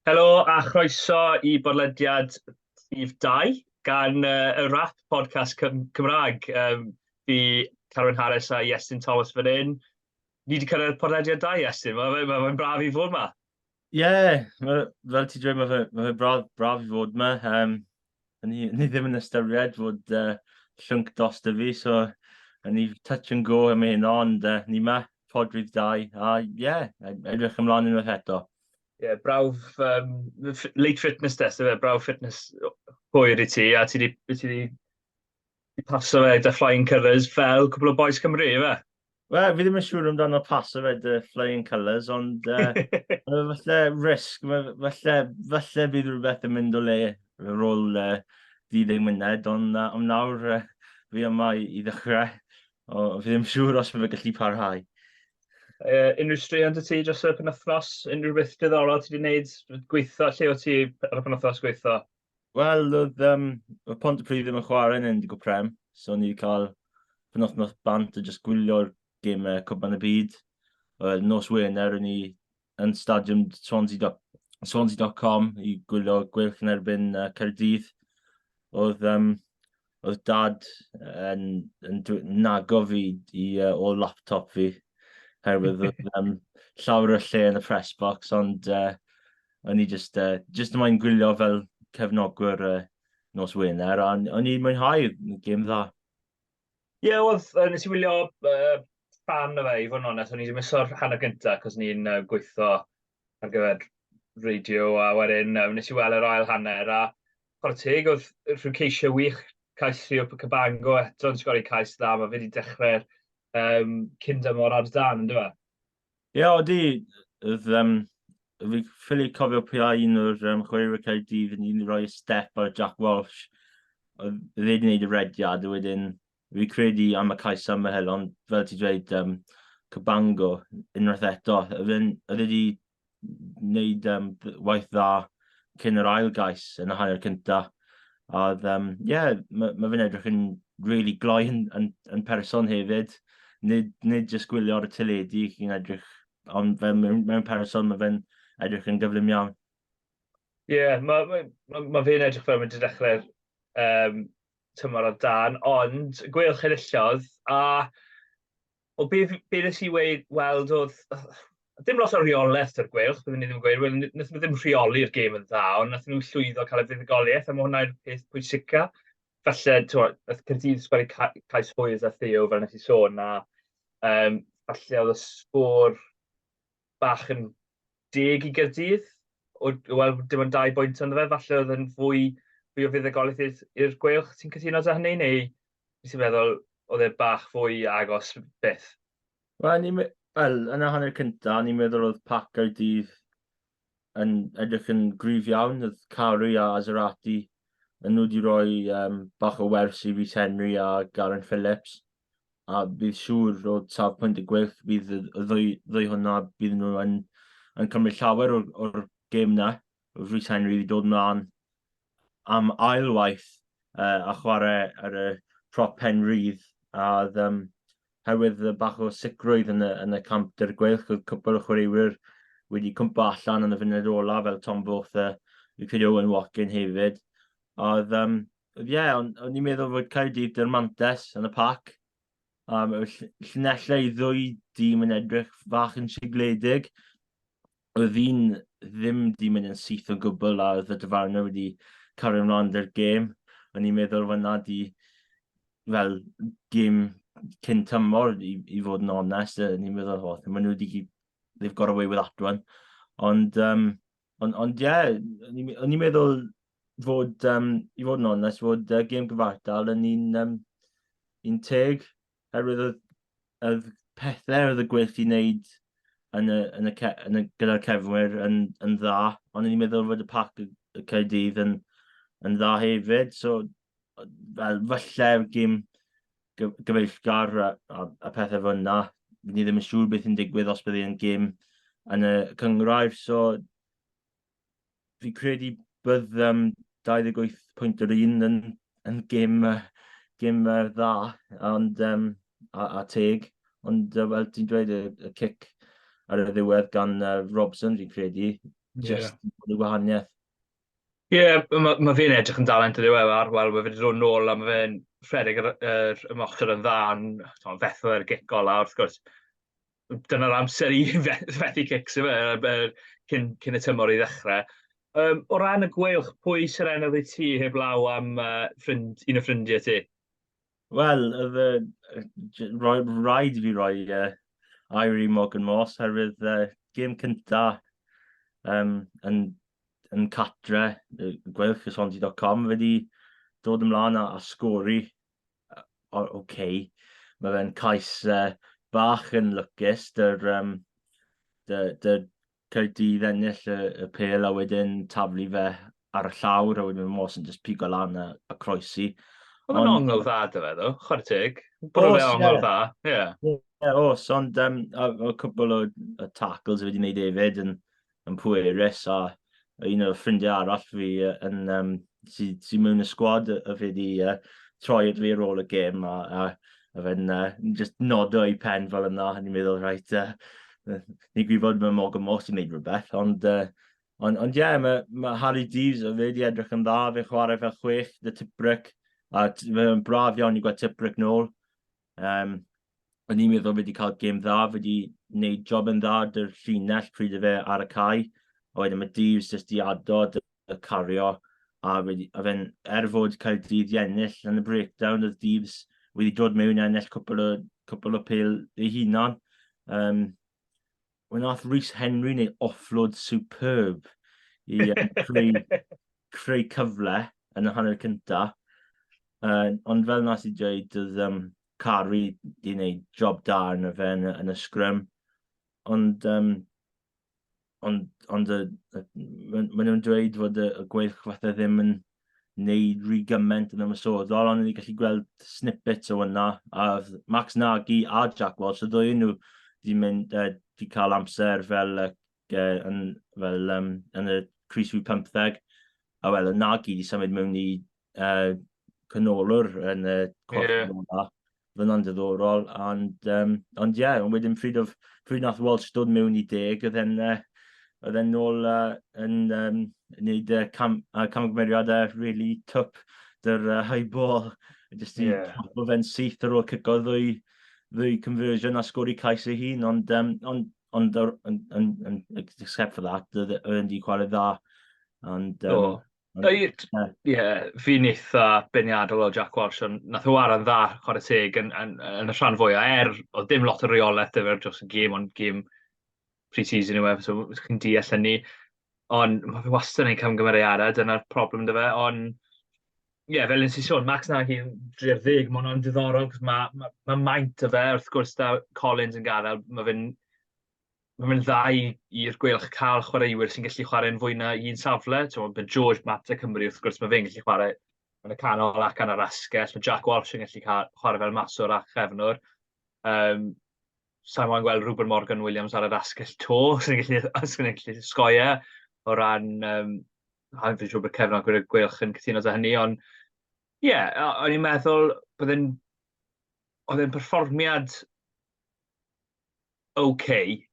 Helo a chroeso i bodlediad Llif 2 gan uh, y rap podcast Cym Cymraeg. Um, fi Carwyn Harris a Iestyn Thomas fan hyn. Ni wedi cyrraedd podlediad 2, Iestyn. Mae'n ma, ma, ma braf i fod yma. Ie, ma' fel ti'n dweud, ma' fe ma' fe braf braf i fod 'ma, yym, o'n i o'n i ddim yn ystyried fod, yy, llwnc drosto fi, so o'n i touch and go am hyn, ond, yy, ni 'ma, pod rhif dau, a ie, e- edrych ymlaen unwaith eto. Ie, yeah, brawf, um, late fitness test, efe, brawf fitness hwyr i ti, a ti wedi I paso fe dy Flying Colours fel cwbl o bois Cymru, ife? Wel, fi ddim yn siŵr amdano paso fe dy Flying Colours, ond uh, falle risg, falle, falle bydd rhywbeth yn mynd o le ar ôl uh, 30 munud, ond uh, am nawr uh, fi yma i, i ddechrau, o, fi ddim yn siŵr os bydd fe gallu parhau. Uh, unrhyw straeon dy ti dros y penwthnos? Unrhyw beth diddorol ti wedi gwneud? Gweithio? Lle o ti ar y penwthnos gweithio? Wel, oedd um, y pont y pryd ddim yn chwarae yn endig o prem, so ni wedi cael penwthnos bant a jyst gwylio'r gymau Cwpan y Byd. Wel, nos Wener, ni yn stadiwm Swansea.com Swansea i gwylio gweilch yn erbyn uh, Cerdydd. Oedd um, oedd dad yn, yn, yn nago fi i uh, ôl laptop fi, herwydd oedd um, llawer o lle yn y press box, ond uh, o'n i just, uh, just yma'n gwylio fel cefnogwr uh, nos Wener, a o'n i'n mwynhau gêm dda. Ie, yeah, oedd, uh, nes i wylio uh, fan o fe, i fod yn onest, o'n i wedi miso'r hanner gyntaf, cos ni'n uh, gweithio ar gyfer radio, a wedyn um, nes i weld yr ail hanner, a Chwarae teg, oedd rhyw ceisiau wych, cais Rio Cabango eto yn sgori cais dda, mae fe wedi dechrau'r um, cyn dymor ar dan, ynddo fe? Ie, yeah, oeddi, oedd, um, fi ffili cofio pwy a un o'r um, chwaraewyr Caerdydd yn un roi step ar Jack Walsh. Oedd wedi gwneud y rediad, a wedyn Fi credu am y cais am y helon, fel ti dweud, um, cybango unwaith eto. Oedd e wedi wneud um, waith dda cyn yr ail gais yn y hanner cyntaf. A oedd, um, yeah, mae ma fe'n edrych yn really gloi yn, yn, yn person hefyd. Nid, nid jyst gwylio ar y teledu chi'n edrych, ond fe, mewn, mewn person mae fe'n edrych yn gyflym iawn. Ie, yeah, mae ma, ma, ma fe'n edrych fel mae'n dechrau um, tymor o dan, ond gweilch enillodd, a o be, be nes i weid, weld oedd, dim lot o reolaeth o'r gweilch, byddwn ni ddim yn gweud, well, nes nhw ddim rheoli'r gêm yn dda, ond nes nhw llwyddo cael y fuddugoliaeth, a mae hwnna'r peth pwysica. Falle, ti'n gwybod, Cyrdydd sgori cais hwyr a Theo, fel nes i sôn, a um, falle oedd y sgôr bach yn deg i Gaerdydd, wel dim ond dau bwynt ond fe, falle oedd yn fwy, fwy o fuddugoliaeth i'r, i'r gweilch, ti'n cytuno da hynny, neu ti'n meddwl oedd e bach fwy agos beth? Wel, ni, wel yna hanner cynta, ni'n meddwl oedd pac Gaerdydd yn edrych yn gryf iawn, oedd Cari a Azerati yn nhw wedi rhoi um, bach o wers i Rhys Henry a Garyn Phillips. a bydd siŵr o safbwynt y gwyrth fydd y ddwy, ddwy hwnna bydd nhw yn, yn cymryd llawer o'r, or gêm na. Rhys Henry wedi dod ymlaen am ailwaith uh, a chwarae ar y prop pen rydd a um, herwydd y bach o sicrwydd yn y, yn y camp dy'r gweilch oedd cwpl o chwaraewyr wedi cwmpa allan yn y funud ola fel Tom Booth a Richard Owen Watkin hefyd. Oedd, um, ie, yeah, o'n, on i'n meddwl fod Caerdydd dy'r mantes yn y pac. Um, llunellau i ddwy dîm yn edrych fach yn sigledig. Oedd un ddim di mynd yn syth o gwbl a oedd y dyfarnau wedi cario ymlaen dy'r gêm. O'n i'n meddwl fod na di fel gêm cyn tymor i, i fod yn onest. O'n i'n meddwl, oh, maen nhw wedi... They've got away with that one. Ond, um, Ond, ond ie, yeah, o'n i'n meddwl fod, um, i fod yn onest, fod uh, gêm gyfartal yn un, um, un teg, herwydd oedd, oedd pethau oedd y gwych i wneud yn y, yn y, yn y, gyda'r cefnwyr yn, yn dda, ond o'n i'n meddwl fod y pac y, y Caerdydd yn, yn dda hefyd, so fel falle gêm gyfeillgar a, a, a pethau fel yna. Ni ddim yn siŵr beth yn digwydd os bydd yn gym yn y cyngrair, so fi credu bydd um, 28 pwynt yr un yn, yn gym, uh, gym uh, dda ond, um, a, a teg, ond uh, fel ti'n dweud y, y cic ar y ddiwedd gan uh, Robson fi'n credu, just yeah. gwahaniaeth. Ie, ma' ma' fe'n edrych yn dalent ydyw e, ar- wel ma' fe 'di dod nôl a ma' fe'n rhedeg yr y- yr ymosod yn dda yn t'mod fethu ar gic ola wrth gwrs dyna'r amser i fe- fethu cics yfe yy be- cyn cyn y tymor i ddechre. Yym o ran y gweilch pwy sy'n ennill i ti heblaw am yy ffrind un o ffrindie ti? Wel, oedd y y j- roedd raid i fi roi, yy, air i Morgan Morse oherwydd, yy, gêm cynta, yym, yn yn cartre y Gweilch y Swansea dot com, fe 'di dod ymlaen a a sgori, yy, o ok. Ma' fe'n cais, yy, bach yn lwcus, 'da'r, yym, 'da 'da'r Caerdydd ennill y, y pel a wedyn taflu fe ar y llawr a wedyn mae Mawson jyst pigo lan a, a croesi. Oedd yn ongl dda dy fe ddo, chwarae teg. Bwrw fe ongl dda, ie. Yeah. Yeah, os, ond um, a, a cwbl o, o tackles wedi wneud efyd yn, yn pwerus a un o'r ffrindiau arall fi yn, um, sy, sy mewn y sgwad y fe di uh, troi at fi ar ôl y gêm a, a, a fe'n uh, just nodo i pen fel yna, ni'n meddwl, rhaid, uh, ni'n gwybod mae Morgan Moss sy'n gwneud rhywbeth, ond uh, Ond, ond ie, yeah, mae ma Harry Deeves, o fe wedi edrych yn dda, fe chwarae fel chwech, dy Tibrick, a mae'n braf iawn i gweld Tibrick nôl. Um, o'n i'n meddwl wedi cael gêm dda, wedi wneud job yn dda, dy'r llinell pryd y fe ar y cae, a wedyn mae Deves jyst i adod y cario, a, wedi, a fe'n er fod cael dydd i ennill yn y breakdown, oedd Deves wedi dod mewn i ennill cwpl o, cwpl o pil ei hunan. Um, Wel, nath Rhys Henry neu offload superb i creu, creu cyfle yn y hanner cynta. Uh, ond fel nas i dweud, doedd um, Cari di wneud job da yn y fe yn, yn y sgrym. Ond, um, ond, ond y, y, maen nhw'n dweud fod y, y gweilch fatha ddim yn, wneud rhy gymaint yn ymwysodol, ond ni gallu gweld snippets o yna. A Max Nagy a Jack Walsh, y ddwy nhw wedi mynd, uh, wedi cael amser fel, uh, yn, fel um, yn y Cris Rwy 15. A wel, y Nagy wedi symud mewn i uh, canolwr yn y corff yeah. yna. fyna'n ddiddorol, ond, um, ond ie, yeah, wedyn pryd, of, pryd nath Walsh dod mewn i deg, oedd e'n uh, oedd e'n nôl uh, yn um, wneud uh, cam, uh, camgymeriadau really twp dy'r uh, high ball, jyst i yeah. o fe'n syth ar ôl cygo ddwy, ddwy conversion a sgori cais ei hun, ond, um, ond, ond, ond, ond, ond except for that, oedd e'n di chwarae dda. And, um, oh. Ie, yeah, fi'n eitha beniadol o Jack Walsh, ond nath o waran dda, chwarae teg, yn, yn, yn y rhan fwyaf, er, oedd dim lot o reolaeth dy fe'r dros y gêm, ond gêm pre-season yw e, so chi'n deall hynny. Ond mae fe wastad yn ei camgymeriadau, dyna'r problem dy fe, ond ie, yeah, fel yn si sôn, Max Nagy yn dreir ddeg, mae hwnna'n diddorol, cos mae ma, ma maint o fe, wrth gwrs da Collins yn gadael, mae fe'n mae'n mynd dda i, i'r gweilch cael chwaraewyr sy'n gallu chwarae'n fwy na un safle. Mae ben George, Mata Cymru, wrth gwrs, mae fe'n gallu chwarae yn y canol ac yn yr asgell. Mae Jack Walsh yn gallu cael, chwarae fel maswr a chefnwr. Um, Sa'n moyn gweld Rupert Morgan Williams ar yr asgell to, sy'n gallu, sy'n gallu sgoia o ran... Um, Ha'n fi'n siŵr bod Kevin Ogwyr y Gwylch yn cytuno da hynny, ond ie, yeah, o'n i'n meddwl bod e'n... oedd e'n perfformiad ok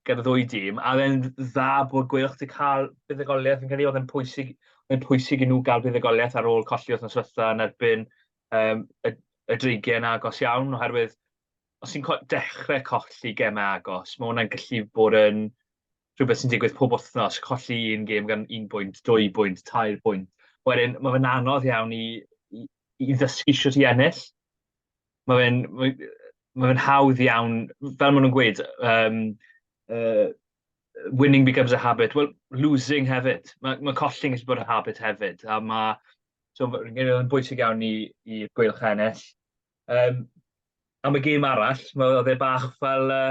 gyda ddwy dîm, a fe'n dda bod gwelwch wedi cael buddugoliaeth yn cael ei oedd yn pwysig, yn pwysig i nhw gael buddugoliaeth ar ôl colli wrth noswetha yn erbyn um, y, y dreigiau yn agos iawn, oherwydd os ti'n dechrau colli gemau agos, mae hwnna'n gallu bod yn rhywbeth sy'n digwydd pob wythnos, colli un gêm gan un bwynt, dwy bwynt, tair bwynt. Wedyn, mae fe'n anodd iawn i, i, i ddysgu siwt i ennill, ma' fe'n ma' yy ma' fe'n hawdd iawn, fel ma' nhw'n gweud yym yy winning becomes a habit, wel losing hefyd, ma' ma' colli'n gallu bod yn habit hefyd a ma' so ma' fi'n credu ma'n bwysig iawn i i Gweilch ennill. Yym am y gêm arall, ma' o'dd e bach fel yy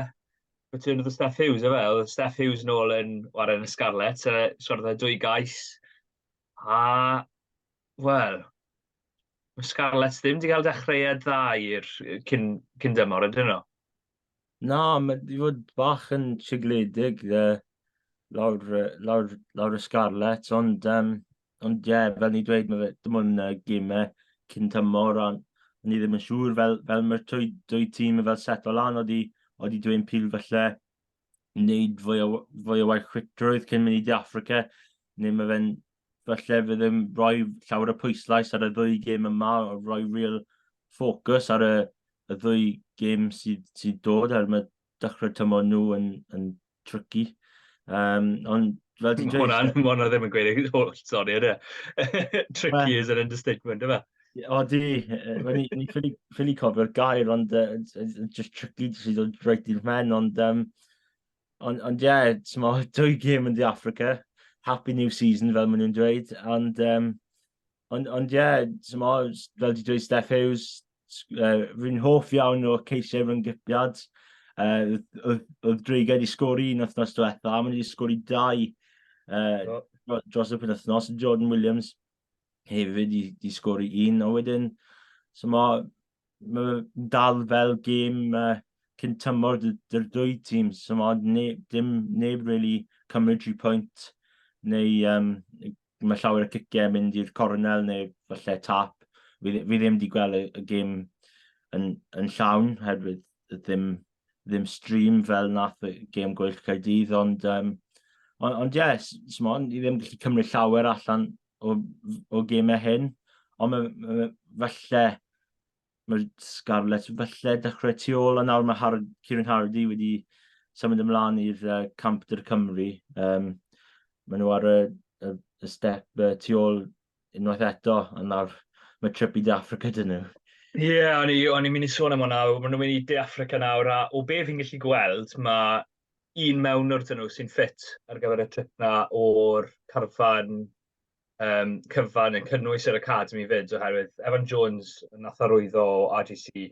Return of the Steff Hughes yfe, o'dd Steff Hughes nôl yn ware yn y Scarlets yy sgorodd e dwy gais a wel, Mae Scarlets ddim wedi cael dechreuad dda i'r cyn, cyn dymor, ydyn nhw? Na, mae wedi fod bach yn sigledig dde, lawr, lawr, lawr y Scarlets, ond, um, ond ie, yeah, fel ni dweud, mae fe, dim ond uh, gymau cyn tymor, a ni ddim yn siŵr fel, fel mae'r dwy, dwy tîm yn fel setlo lan, oeddi, oeddi dwi'n pil falle wneud fwy o, fwy o waith chwitrwydd cyn mynd i De Africa, neu mae fe'n falle fe ddim rhoi llawer o pwyslais ar y ddwy gêm yma, o rhoi real ffocws ar y, y ddwy gêm sydd, sydd dod, er mae dechrau tymor nhw yn, yn tricky. Um, ond fel ti'n dweud... Hwna'n hwnna ddim yn gweud eich holl, sori, ydy. E? tricky is an understatement, yma. O di, ni ffili cofio'r gair, ond uh, just tricky sydd dod reit i'r men, ond um, Ond, ond ie, yeah, ti'n mo, dwy gym yn di Africa. Happy new season, fel maen nhw'n dweud. Ond, um, ond, ond ie, yeah, ti'n mo, fel di dweud Steph Hughes, uh, rwy'n hoff iawn o ceisiau rhwng gypiad. Uh, oedd Dreiga wedi sgori un wythnos diwetha, a maen wedi sgori dau uh, oh. dros y penwythnos. Jordan Williams hefyd wedi sgori un, a wedyn, so mae mae'n dal fel gêm uh, cyn tymor dy'r dwy tîm, so mae neb, dim neb really cymryd tri pwynt, neu um, mae llawer y cicau mynd i'r cornel neu falle tap. Fi, fi ddim wedi gweld y, y gêm yn, yn llawn, herwydd ddim, ddim stream fel nath y gêm gwyll Caerdydd, ond um, Ond, ond yes, Simon, i ddim gallu cymryd llawer allan o, o gemau hyn, ond mae, mae, falle mae Scarlett falle dechrau tu ôl, a nawr mae Hard, Kieran Hardy wedi symud ymlaen i'r uh, camp dy'r Cymru. Um, mae nhw ar y, y, y step uh, tu ôl unwaith eto, a nawr mae trip i De Africa dyn nhw. Ie, yeah, o'n i'n mynd i sôn am hwnna, maen nhw'n mynd i De Africa nawr, a o be fi'n gallu gweld, mae un mewnwr dyn nhw sy'n ffit ar gyfer y trip na o'r carfan um, cyfan yn cynnwys yr Academy fyd oherwydd Evan Jones yn nath arwyddo o RGC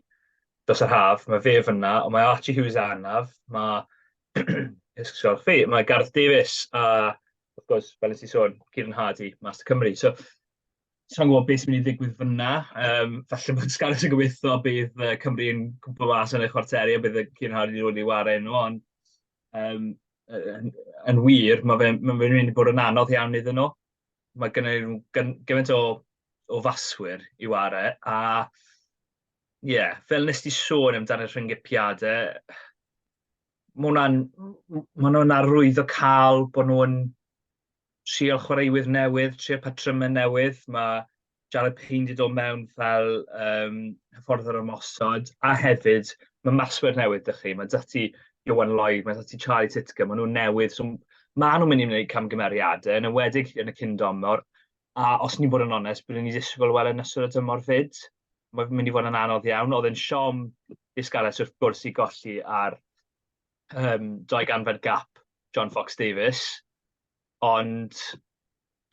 dros yr haf, mae fe fyna, ond mae Archie Hughes anaf, mae Ysgol chi, mae Gareth Davies a wrth gwrs, fel nes i sôn, Kieran Hardy, Master Cymru. So, sa i'n gwybod be sy'n mynd i ddigwydd fan'na. Yym, falle bod Scarlets yn gobeithio bydd yy Cymru yn cwmpo mas yn y chwarteri a bydd y Cian Hardy wedi ei wared nhw, ond yym, yn yn wir, mae fe'n ma' fe'n mynd i bod yn anodd iawn iddyn nhw. Mae gynnyn nhw gyn- gymaint o o faswyr i ware a ie, yeah, fel nes di sôn amdan y rhyngipiadau, mae hwnna'n m- m- ma' nhw'n arwyddo cael bod nhw'n trial chwaraewyr newydd, trial patrymau newydd. Mae Jarrod Payne wedi dod mewn fel um, hyfforddwr ymosod, a hefyd mae maswyr newydd dych chi. Mae dati Iwan Lloyd, mae dati Charlie Titcombe, maen nhw'n newydd. So, maen nhw'n mynd i wneud camgymeriadau, yn ywedig yn y cyn domor. A os ni'n bod yn onest, byddwn ni'n disgwyl wel yn ystod y dymor fyd. Mae'n mynd i fod yn anodd iawn. Oedd yn siom disgalus wrth gwrs i golli ar um, dau ganfed gap John Fox Davis, ond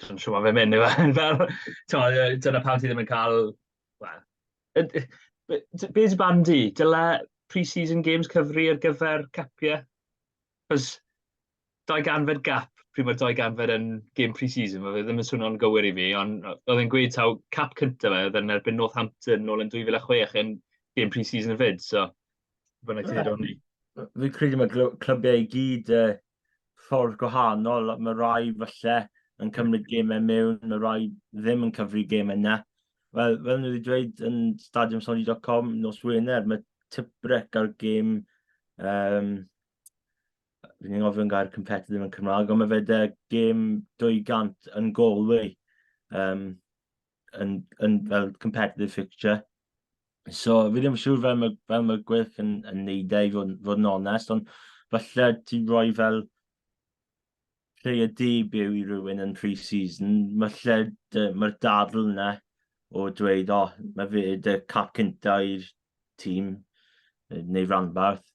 dwi'n siŵr mae'n fe mynd yw e. Fel, to, dyna pam ti ddim yn cael... Well, be sy'n barn di? Dyla pre-season games cyfri ar gyfer capiau? Cos dau ganfed gap, pryd mae'r dau ganfed yn game pre-season, mae fe ddim yn swnio'n gywir i fi, ond oedd e'n gweud taw cap cyntaf fe, oedd e'n erbyn Northampton nôl yn 2006 yn game pre-season y fyd, so... Fyna ti ddod ni. Fi'n credu mae clybiau i gyd uh, ffordd gwahanol. Mae rai falle yn cymryd gemau mewn, mae rai ddim yn cyfri gemau yna. Wel, fel nhw wedi dweud yn stadiumsoli.com nos Wener, mae Tiprec ar gêm... Um, Fi'n ni'n ofyn gair competitive yn Cymraeg, ond mae fe da gêm 200 yn Galway. Um, yn, yn fel competitive fixture. So, fi ddim yn siŵr fel mae, fel mae Gwyth yn, yn neud e i fod, fod yn onest, ond falle ti roi fel player debut i rywun yn pre-season, falle mae'r dadl yna o dweud, o, oh, mae fe dy cap cynta i'r tîm, neu ranbarth.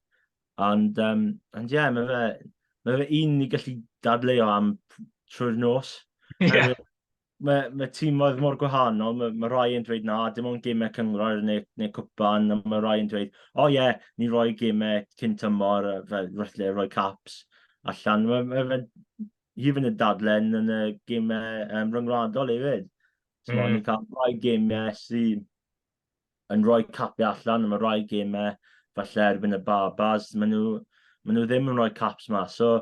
Ond, um, ond ie, yeah, mae fe, mae fe un i gallu dadleu o am trwy'r nos. Yeah. mae, mae tîmoedd mor gwahanol, mae, mae rhai yn dweud na, dim ond gymau cyngrair neu, neu cwpan, a mae rhai yn dweud, o oh, ie, yeah, ni roi gymau cyn tymor, fel rhythle roi caps allan. Mae, mae, mae hi fynd yn dadlen yn y gymau um, ryngwladol hefyd. So, mm. Ni'n cael rhai gymau sydd yn rhoi capiau allan am y rai gemau, falle erbyn y Barbars, maen nhw, maen nhw ddim yn rhoi caps mas. So,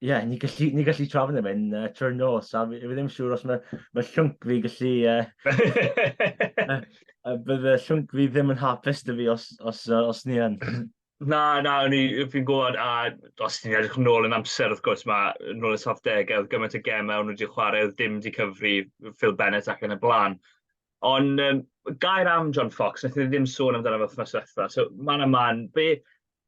ie, yeah, ni gallu, ni gallu trafod am hyn uh, trwy'r nos, a fi, fi ddim siŵr os mae, mae llwnc fi gallu... Uh, uh, uh, bydd y llwnc fi ddim yn hapus dy fi os, os, uh, os ni yn. Na, na, fi'n gwybod, a os ni'n edrych yn ôl yn amser, wrth gwrs, mae yn ôl y soft degau, oedd gymaint o gemau, o'n nhw wedi chwarae, oedd dim wedi cyfri Phil Bennett ac yn y blaen. Ond um, gair am John Fox, wnaeth ni ddim sôn amdano fe wythnos diwetha. So, man a man, be,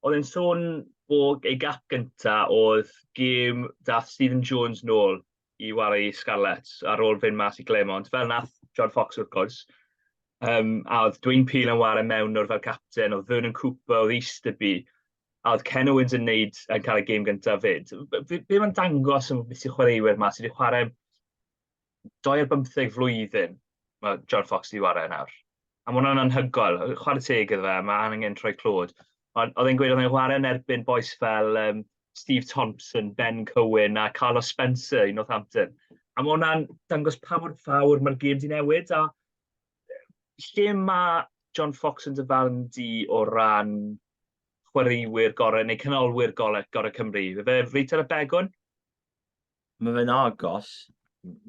oedd e'n sôn bod ei gap gynta oedd gêm dath Stephen Jones nôl i wario i Scarlets ar ôl fynd mas i Glemont, fel nath John Fox wrth gwrs. Um, a oedd Dwayne Peel yn wario mewn o'r fel capten, oedd Vernon Cooper, oedd Easterby, a oedd Ken Owens yn neud yn cael y gêm gyntaf fyd. Be, be mae'n dangos yn beth sy'n chwaraewyr yma sydd wedi chwarae doi ar bymtheg flwyddyn mae John Fox wedi wario nawr. A mae hwnna'n anhygoel. Chwarae teg iddo fe, mae angen troi clod. Ond oedd e'n gweud oedd e'n wario yn erbyn boes fel um, Steve Thompson, Ben Cohen a Carlos Spencer i Northampton. A mae hwnna'n dangos pa mor fawr mae'r gêm di newid. A lle mae John Fox yn dyfarn di o ran chwaraewyr gorau neu canolwyr gorau, gorau Cymru? Fe fe reit ar y begwn? mae fe'n agos.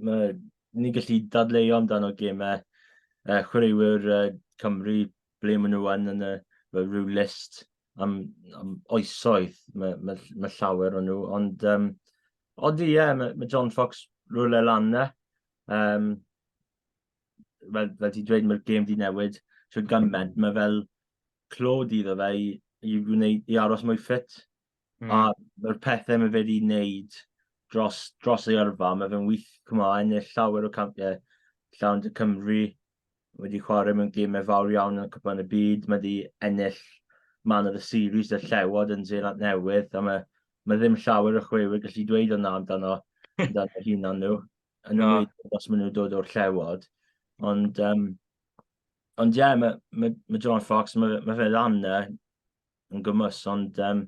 Mae ni'n gallu dadleuo amdano gemau uh, chwaraewyr uh, Cymru ble maen nhw yn yn y fel rhyw list am, am oesoedd. Mae, mae, mae llawer o'n nhw. Ond, um, ond ie, yeah, mae, mae John Fox rhywle lan na. Um, fel, fel ti dweud, mae'r gêm di newid trwy gymaint. Mae fel clod iddo fe i, i, wneud, i aros mwy ffit. Mm. A mae'r pethau mae fe wedi wneud dros, dros ei yrfa, mae fe'n wyth cymlaen neu llawer o campiau llawn dy Cymru. Wedi chwarae mewn gymau fawr iawn yn y cwpan y byd. Mae wedi ennill man o'r series y llewod yn Zeeland Newydd. A mae, mae ddim llawer o chwewyr gallu dweud o'na amdano, amdano hunan nhw. Yn no. ymwneud os maen nhw'n dod o'r llewod. Ond, um, ond ie, yeah, mae, mae, mae John Fox, mae, mae fe lan yn gymwys, ond um,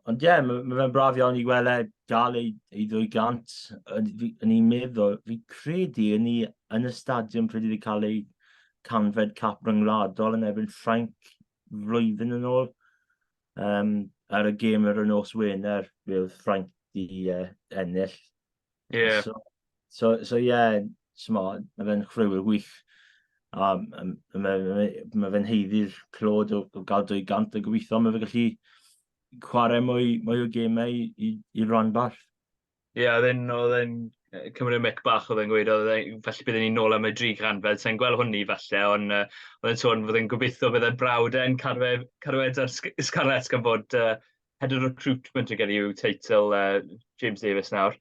ond ie, yeah, mae ma fe'n braf iawn i weld e gael ei, ei ddwy gant yn ei meddwl. Fi credu yn, ni, yn y stadiwm pryd wedi cael ei canfed cap ryngwladol yn erbyn Ffrainc flwyddyn yn ôl. Um, ar y gêm yr nos Wener, bydd Ffrainc di uh, ennill Ie. So, so, so yeah, mo, mae fe'n chreuwyr gwych. A mae fe'n heiddi'r clod o, o gael 200 a gobeithio mae fe gallu chwarae mwy, mwy o gemau i, i, i ran bach. Ie, yeah, oedd e'n Cymru y mic bach oedd e'n gweud, oedd e'n, felly byddwn ni'n nôl am y dri gan, fel sa'n gweld hwnni falle, ond uh, oedd e'n sôn fod e'n gobeithio bydd e'n brawd e'n carwed ar Scarlets gan bod uh, Head of Recruitment yn gen i yw teitl uh, James Davis nawr.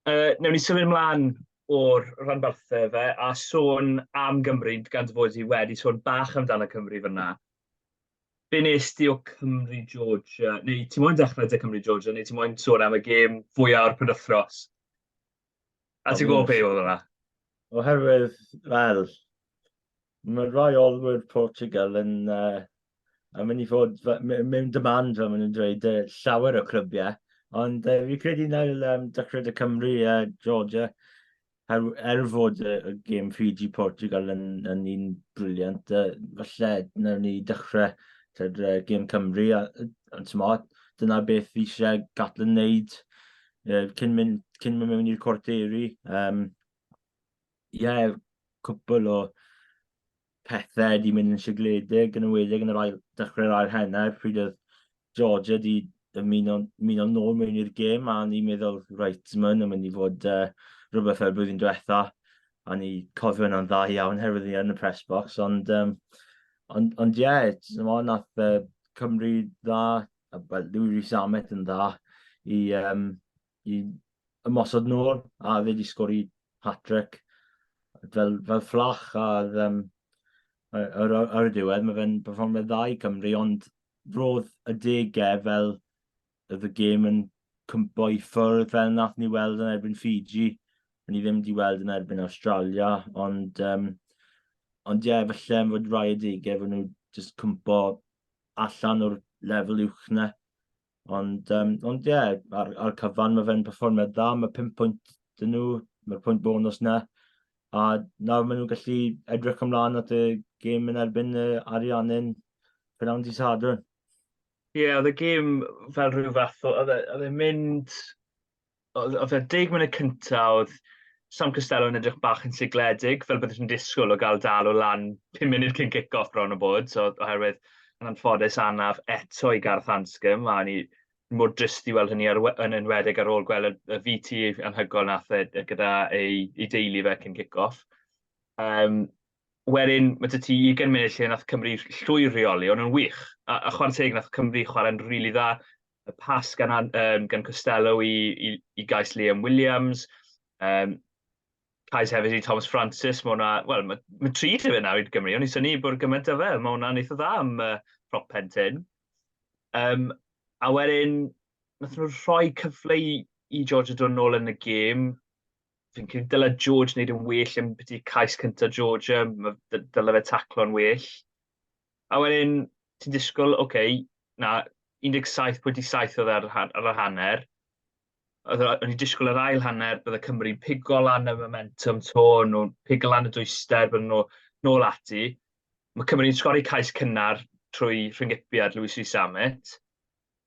Uh, newn ni symud ymlaen o'r rhanbarthau fe a sôn am Gymru gan fod i wedi sôn bach amdano Cymru fyna. Be nes ti o Cymru Georgia? Neu ti moyn dechrau dy Cymru Georgia neu ti moyn sôn am y gêm fwyaf o'r penwthnos? A ti'n gwybod be oedd hwnna? Oherwydd, fel, mae rhai olwyr Portugal yn, uh, yn mynd i fod mewn demand, fel maen nhw'n dweud, uh, llawer o clybiau. Ond uh, fi credu nael um, Dycred y Cymru a uh, Georgia, er, er fod y, y gêm Fiji Portugal yn, yn un briliant, uh, falle nawn ni dechrau tyd, uh, gêm Cymru, ond uh, dyna beth fi eisiau Gatlin wneud uh, cyn mynd, cyn mynd mewn i'r corderi. Um, yeah, cwbl o pethau di mynd yn sigledig yn ymwedig yn yr ail, dechrau'r ail henner, pryd oedd Georgia di ymuno'n ymuno nôl mewn i'r gêm, a ni'n meddwl, reit, mae'n yn mynd i fod uh, rhywbeth fel blwyddyn diwetha, a ni cofio yna'n dda iawn herwydd ni yn y press box, ond, um, ond, ond ie, yeah, nath uh, Cymru dda Wel, dwi wedi samet yn dda i, um, i ymosod nôl, a fe wedi sgori hat-trick fel, fel fflach, a um, ar, ar, ar y diwedd mae fe'n performio dda i Cymru, ond roedd y degau e fel oedd y gêm yn cympo i ffwrdd fel nath ni weld yn erbyn Fiji, ni ddim wedi weld yn erbyn Australia, ond um, ond ie, yeah, falle fod rhai y degau fod nhw just cympo allan o'r lefel uwch na. Ond, um, ond ie, yeah, ar, ar cyfan mae fe'n performiad dda, mae pum pwynt dyn nhw, mae'r pwynt bonus na. A nawr maen nhw'n gallu edrych ymlaen at y gêm yn erbyn y Ariannin Prynawn di Sadwrn. Ie, yeah, oedd y gêm fel rhyw fath o, oedd e'n e mynd oedd y 10 munud cyntaf, oedd Sam Costello yn edrych bach yn sigledig, fel byddwch yn disgwyl o gael dal o lan 5 munud cyn cic-off bron o bod, so, oherwydd yn anffodus anaf eto i Gareth Anscombe, a ni mor drist i weld hynny ar, yn enwedig ar ôl gweld y, y VT anhygoel nath e, e gyda ei, ei deulu fe cyn cic-off. Um, wedyn, mae dy ti 20 munud lle nath Cymru llwyr reoli, ond yn wych. A, a chwarae teg nath Cymru chwarae'n rili really dda, y pas gan, um, gan Costello i, i, i gais Liam Williams, um, cais hefyd i Thomas Francis, mae hwnna, wel, mae ma tri lle fe nawr i Gymru, ond i syni bod gymaint o fe, mae hwnna'n eitha dda am uh, prop pen tyn. Um, a wedyn, nath nhw rhoi cyfle i, i George y dod nôl yn y gêm. Fi'n credu dylai George wneud yn well yn beth i'r cais cyntaf George, dylai fe taclo'n well. A wedyn, ti'n disgwyl, ok, na, 17.7 oedd e ar, ar y hanner. Oedd, o'n i'n disgwyl yr ail hanner, bydde Cymru'n pigo lan y momentum to, nhw'n pigo lan y dwyster, bydden nhw nôl ati. Mae Cymru'n sgori cais cynnar trwy rhyngipiad Lewis Rhys Amet.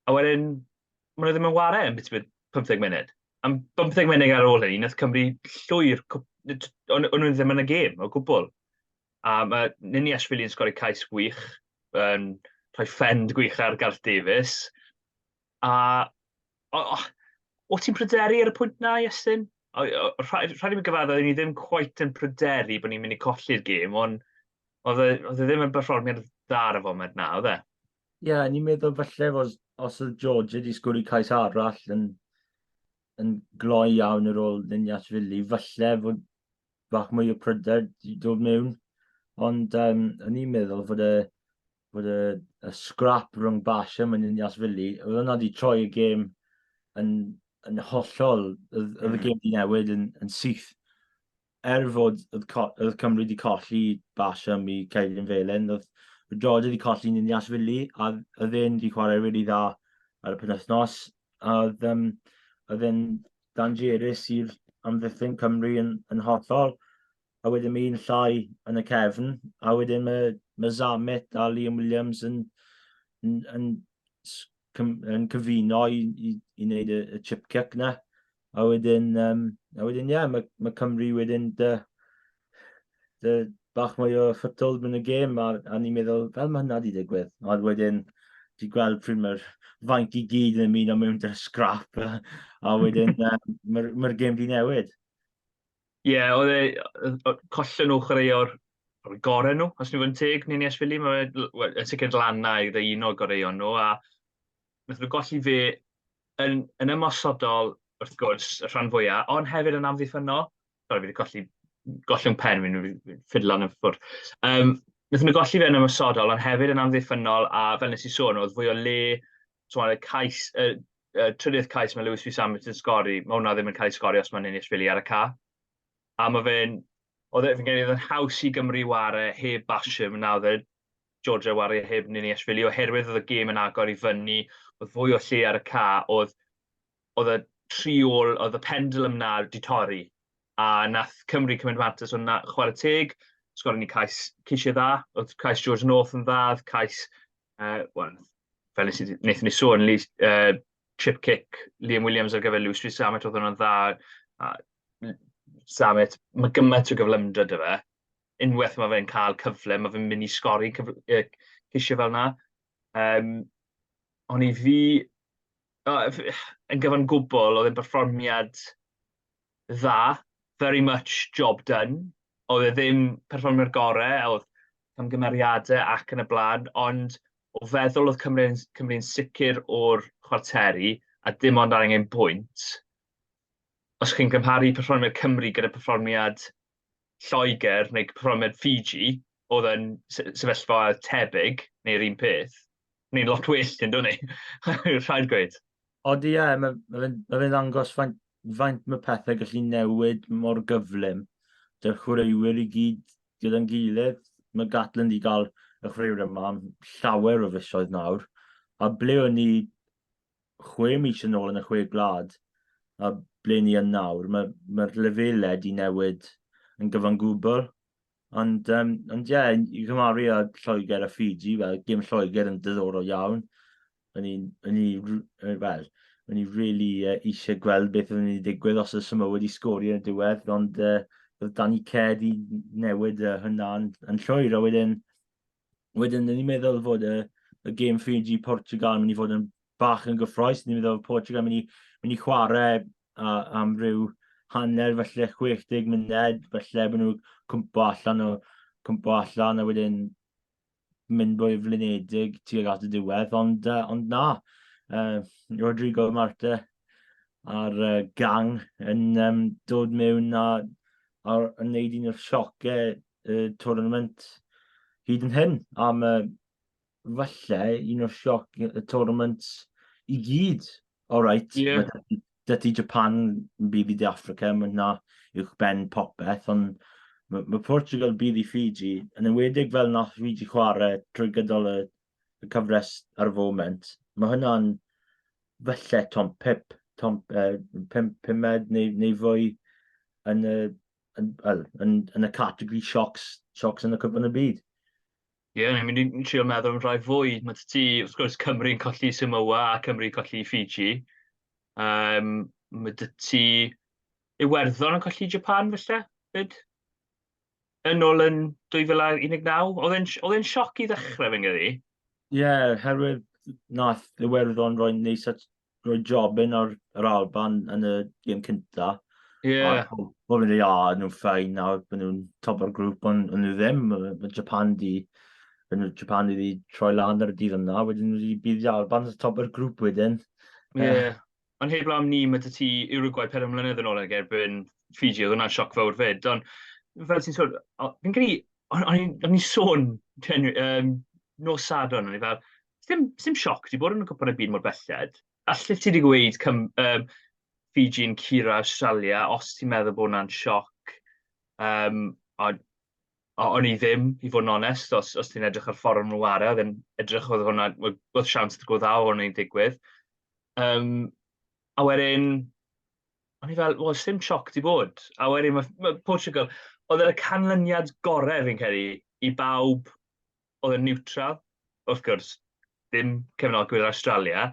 A wedyn, maen nhw ddim yn ware yn bit 15 munud. Am 15 munud ar ôl hynny, wnaeth Cymru llwyr, o'n nhw ddim yn y gêm o gwbl. A mae Nini Ashwili yn sgori cais gwych, yn rhoi ffend gwych ar Gareth Davies. A o, o, o ti'n pryderu ar y pwynt na, Iestyn? Rhaid i mi gyfadda, ni ddim cwait yn pryderu bod ni'n mynd i colli'r gêm, ond oedd e, oedd e ddim yn berfformiad dda ar y foment na, oedd e? Ie, yeah, ni'n meddwl falle os, os oedd George wedi sgwrdd cais arall yn yn gloi iawn ar ôl Ninas Fili. Falle fod bach mwy o pryder i dod mewn. Ond um, o'n i'n meddwl fod y, fod y, y scrap rhwng Bash a Ninas Fili, oedd hwnna wedi troi y gêm yn, yn hollol, oedd y hmm. gêm wedi newid yn, yn syth. er fod oedd Cymru wedi colli Basham i Cedyn Felen, oedd Rodri wedi colli yn Nias Fili, a oedd e'n wedi chwarae rili really dda ar y penwthnos, a oedd, um, oedd e'n dangerus i'r amddiffyn Cymru yn, yn hollol, a wedyn mae un llai yn y cefn, a wedyn mae, mae Zamet a Liam Williams yn, yn, yn, yn, yn cyfuno i, i, i wneud y, y chip kick na. A wedyn, um, a wedyn, ie, yeah, mae, mae Cymru wedyn dy, dy bach mwy o ffytol yn y gêm, a, a ni'n meddwl, fel mae hynna wedi digwydd. A wedyn, di gweld pryd mae'r fainc i gyd yn ymuno mewn dy scrap, a, a wedyn, um, mae'r ma gêm di newid. Ie, yeah, oedd e, collen nhw chwaraeo'r gorau nhw, os ni'n fod yn teg, ni'n Iesfili, mae'n sicr lan na i ddeuno goreuon nhw, a wnaethon nhw golli fi yn, yn ymosodol, wrth gwrs, y rhan fwyaf, ond hefyd yn amddiffynnol. Sorry, fi wedi colli, golli'n pen fi'n ffidlan yn ffwrdd. Um, wnaethon nhw golli fe yn ymosodol, ond hefyd yn amddiffynnol, a fel nes i sôn, oedd fwy o le, so y cais, y, y trydydd cais mae Lewis Fis Ambit yn sgori, mae hwnna ddim yn cael ei sgori os mae'n ennill fili ar y ca. A ma fe'n... oedd e... fi'n credu oedd e'n haws i Gymru ware heb Basham na oedd e? Georgia ware heb Niniashvili oherwydd oedd y gêm yn agor i fyny, oedd fwy o lle ar y ca, oedd oedd y tri ôl, oedd y pendulum 'na 'di torri, a nath Cymru cymryd mantais o 'na. Chware teg, sgorio ni cais cishie dda, oedd cais George North yn dda, oedd cais yy wel fel nes i... nethon ni sôn Lee yy chip kick Liam Williams ar gyfer Lewis Street Samet oedd hwnna'n dda a Samet mae gymaint o gyflymdra dy fe unwaith mae fe'n cael cyfle mae fe'n mynd i sgori cyfle, cysio fel yna um, ond i fi yn gyfan gwbl oedd e'n berfformiad dda, very much job done, oedd e ddim perfformio'r gore, a oedd camgymeriade ac yn y blaen, ond o feddwl oedd Cymru'n Cymru sicr o'r chwarteri, a dim ond angen bwynt. Os chi'n gymharu perfformiad Cymru gyda perfformiad Lloegr neu cyfraniad Fiji oedd yn sefyllfa tebyg neu'r un peth, ni'n lot well yn dod ni, rhaid gweud. Ond ie, yeah, mae ma fe'n ma fe ddangos faint, faint mae pethau gallu newid mor gyflym. Dy'r chwaraewyr i gyd gyda'n gilydd. Mae Gatland i gael y chwaraewyr yma am llawer o fisoedd nawr. A ble o'n ni chwe mis yn ôl yn y chwe gwlad a ble ni yn nawr, mae'r ma lefelau wedi newid yn gyfan gwbl. Ond, um, ond ie, yeah, i gymaru â Lloegr a Fiji, wel, gym Lloegr yn diddorol iawn. O'n i'n, o'n i, wel, o'n i really uh, eisiau gweld beth oedd wedi digwydd os oedd Samoa wedi sgori yn y diwedd, ond uh, oedd Danny Ced i newid uh, hynna'n yn llwyr, a wedyn wedyn ni'n meddwl fod y, y game Fiji Portugal yn mynd i fod yn bach yn gyffroes. Ni'n meddwl Portugal yn mynd i, mynd i chwarae a, am ryw hanner felly 60 munud, felly bod nhw cwmpo allan o cwmpo allan a wedyn mynd bwy flinedig tuag at y diwedd, ond, uh, ond na, uh, Rodrigo Marte a'r uh, gang yn um, dod mewn a, a yn neud un o'r siocau y tournament hyd yn hyn, am y falle un o'r sioc y tournament i gyd. O reit, yeah. dydy Japan yn bydd i De Africa, mae hwnna uwch ben popeth, ond mae, mae Portugal bydd i Fiji, yn ymwedig fel nath Fiji chwarae trwy gydol y, y cyfres ar y foment, mae hwnna'n felly tom pip, tom uh, pum, pumed neu, neu fwy yn y yn, yn, yn, yn y categori siocs, siocs yn y cwpan y byd. Ie, yeah, ni'n mynd i trio meddwl am rhai fwy. Mae ti, wrth gwrs, Cymru'n colli Samoa a Cymru'n colli Fiji. Um, mae dy ti Iwerddon yn colli Japan, felly, fyd? Yn ôl yn 2019. Oedd e'n sioc i ddechrau, fy nghydi? Ie, yeah, herwydd nath Iwerddon roi'n neis at rhoi job yn ar yr Alban yn y gêm cynta. Ie. Yeah. A pobl yn dweud, o, oh, nhw'n ffain nawr, bod nhw'n top o'r grŵp, ond nhw ddim. Mae Japan di, yn Japan wedi troi lan ar y dydd yna, wedyn nhw wedi bydd i Alban yn top o'r grŵp wedyn. Ie. Yeah. Uh, ond heb lam ni, mae ti Uruguay pedwar mlynedd yn ôl ag erbyn Fiji, oedd hwnna'n sioc fawr fyd. Ond fel ti'n sôn, fi'n credu, o'n i'n sôn um, nos Sadwrn, o'n i fel, Sdim, sdim sioc, di bod yn y cwpwrnau byd mor belled. Allet ti wedi gweud cym, um, Fiji yn cura Australia, os ti'n meddwl bod hwnna'n sioc, um, a o'n i ddim, i fod yn onest, os, os ti'n edrych ar ffordd nhw ar oedd yn edrych oedd hwnna, oedd siawns dy gwrdd âw o'n i'n digwydd. Um, a wedyn, o'n i fel, wel, sy'n sioc di bod. A wedyn, mae ma Portugal, oedd yn y canlyniad gorau fi'n credu i bawb oedd yn niwtral, wrth gwrs, ddim cefnogwyr Awstralia,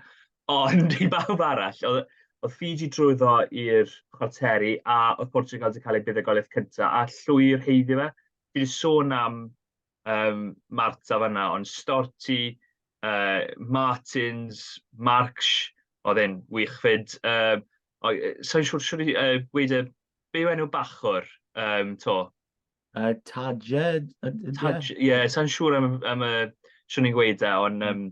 ond i bawb arall, oedd, oedd Fiji drwyddo i'r chwarteri a oedd Portugal wedi cael ei buddugoliaeth cyntaf a llwyr heiddi fe. Fi wedi sôn am um, Marta fanna, ond Storti, uh, Martins, Marks, oedd e'n wych fyd. Um, Sa'n siŵr siwr i uh, gweud y... Be yw enw bachwr um, to? Yy Taje yd- ydy e? Taj, ie, sa'n siŵr am, y- am y... Swn i'n gweud e, ond... yym,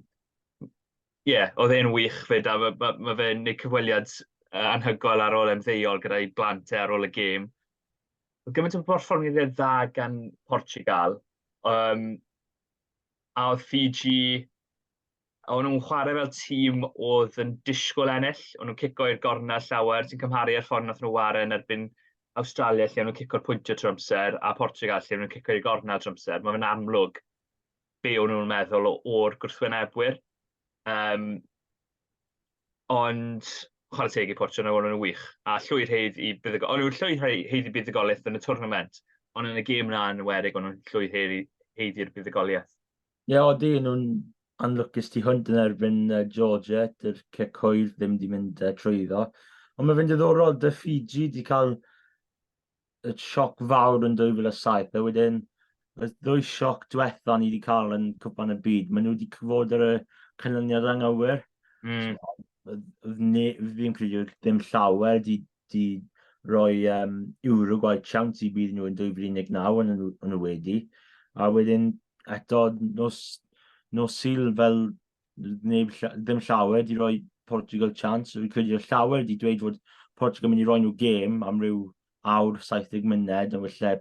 Ie, oedd e'n wych 'fyd, a ma' ma' ma' fe'n neud cyfweliad s- yy anhygoel ar ôl ymddeol gyda'i blant e ar ôl y gêm. Oedd gymaint o berfformiadau dda gan Portugal, yym, a oedd Fiji a o'n nhw'n chwarae fel tîm oedd yn disgwyl ennill, o'n nhw'n cico i'r gorna llawer, ti'n cymharu ar ffordd nath nhw ware yn erbyn Awstralia lle o'n nhw'n cico'r pwyntio trwy amser a Portugal lle o'n nhw'n cico i'r gorna trwy amser, mae fe'n amlwg be o'n nhw'n meddwl o'r gwrthwynebwyr. Um, ond chwarae teg i Portugal, o'n nhw'n wych, a llwy'r heidd i buddugol, o'n nhw'n llwy'r heidd i buddugoliaeth yn y twrnament, ond yn y gêm na yn werig o'n nhw'n llwy'r heidd i'r buddugoliaeth. Ie, yeah, odi, nhw'n anlwcus tu hwnt yn erbyn uh, Georgia, dy'r cecoedd ddim wedi mynd uh, trwy iddo. Ond mae'n fynd ddiddorol, dy Fiji wedi cael y sioc fawr yn 2007, a wedyn y ddwy sioc diwetha ni wedi cael yn cwpan y byd, maen nhw wedi cyfod ar y canlyniad anghywir. Mm. So, ddim credu ddim llawer wedi wedi rhoi um, Uruguay siawns i bydd nhw yn 2019 yn, yn y wedi. A wedyn eto nos, nos syl fel neb, ddim llawer wedi rhoi Portugal chance. Rwy'n credu o llawer wedi dweud fod Portugal yn mynd i roi nhw gêm am ryw awr 70 myned yn wylle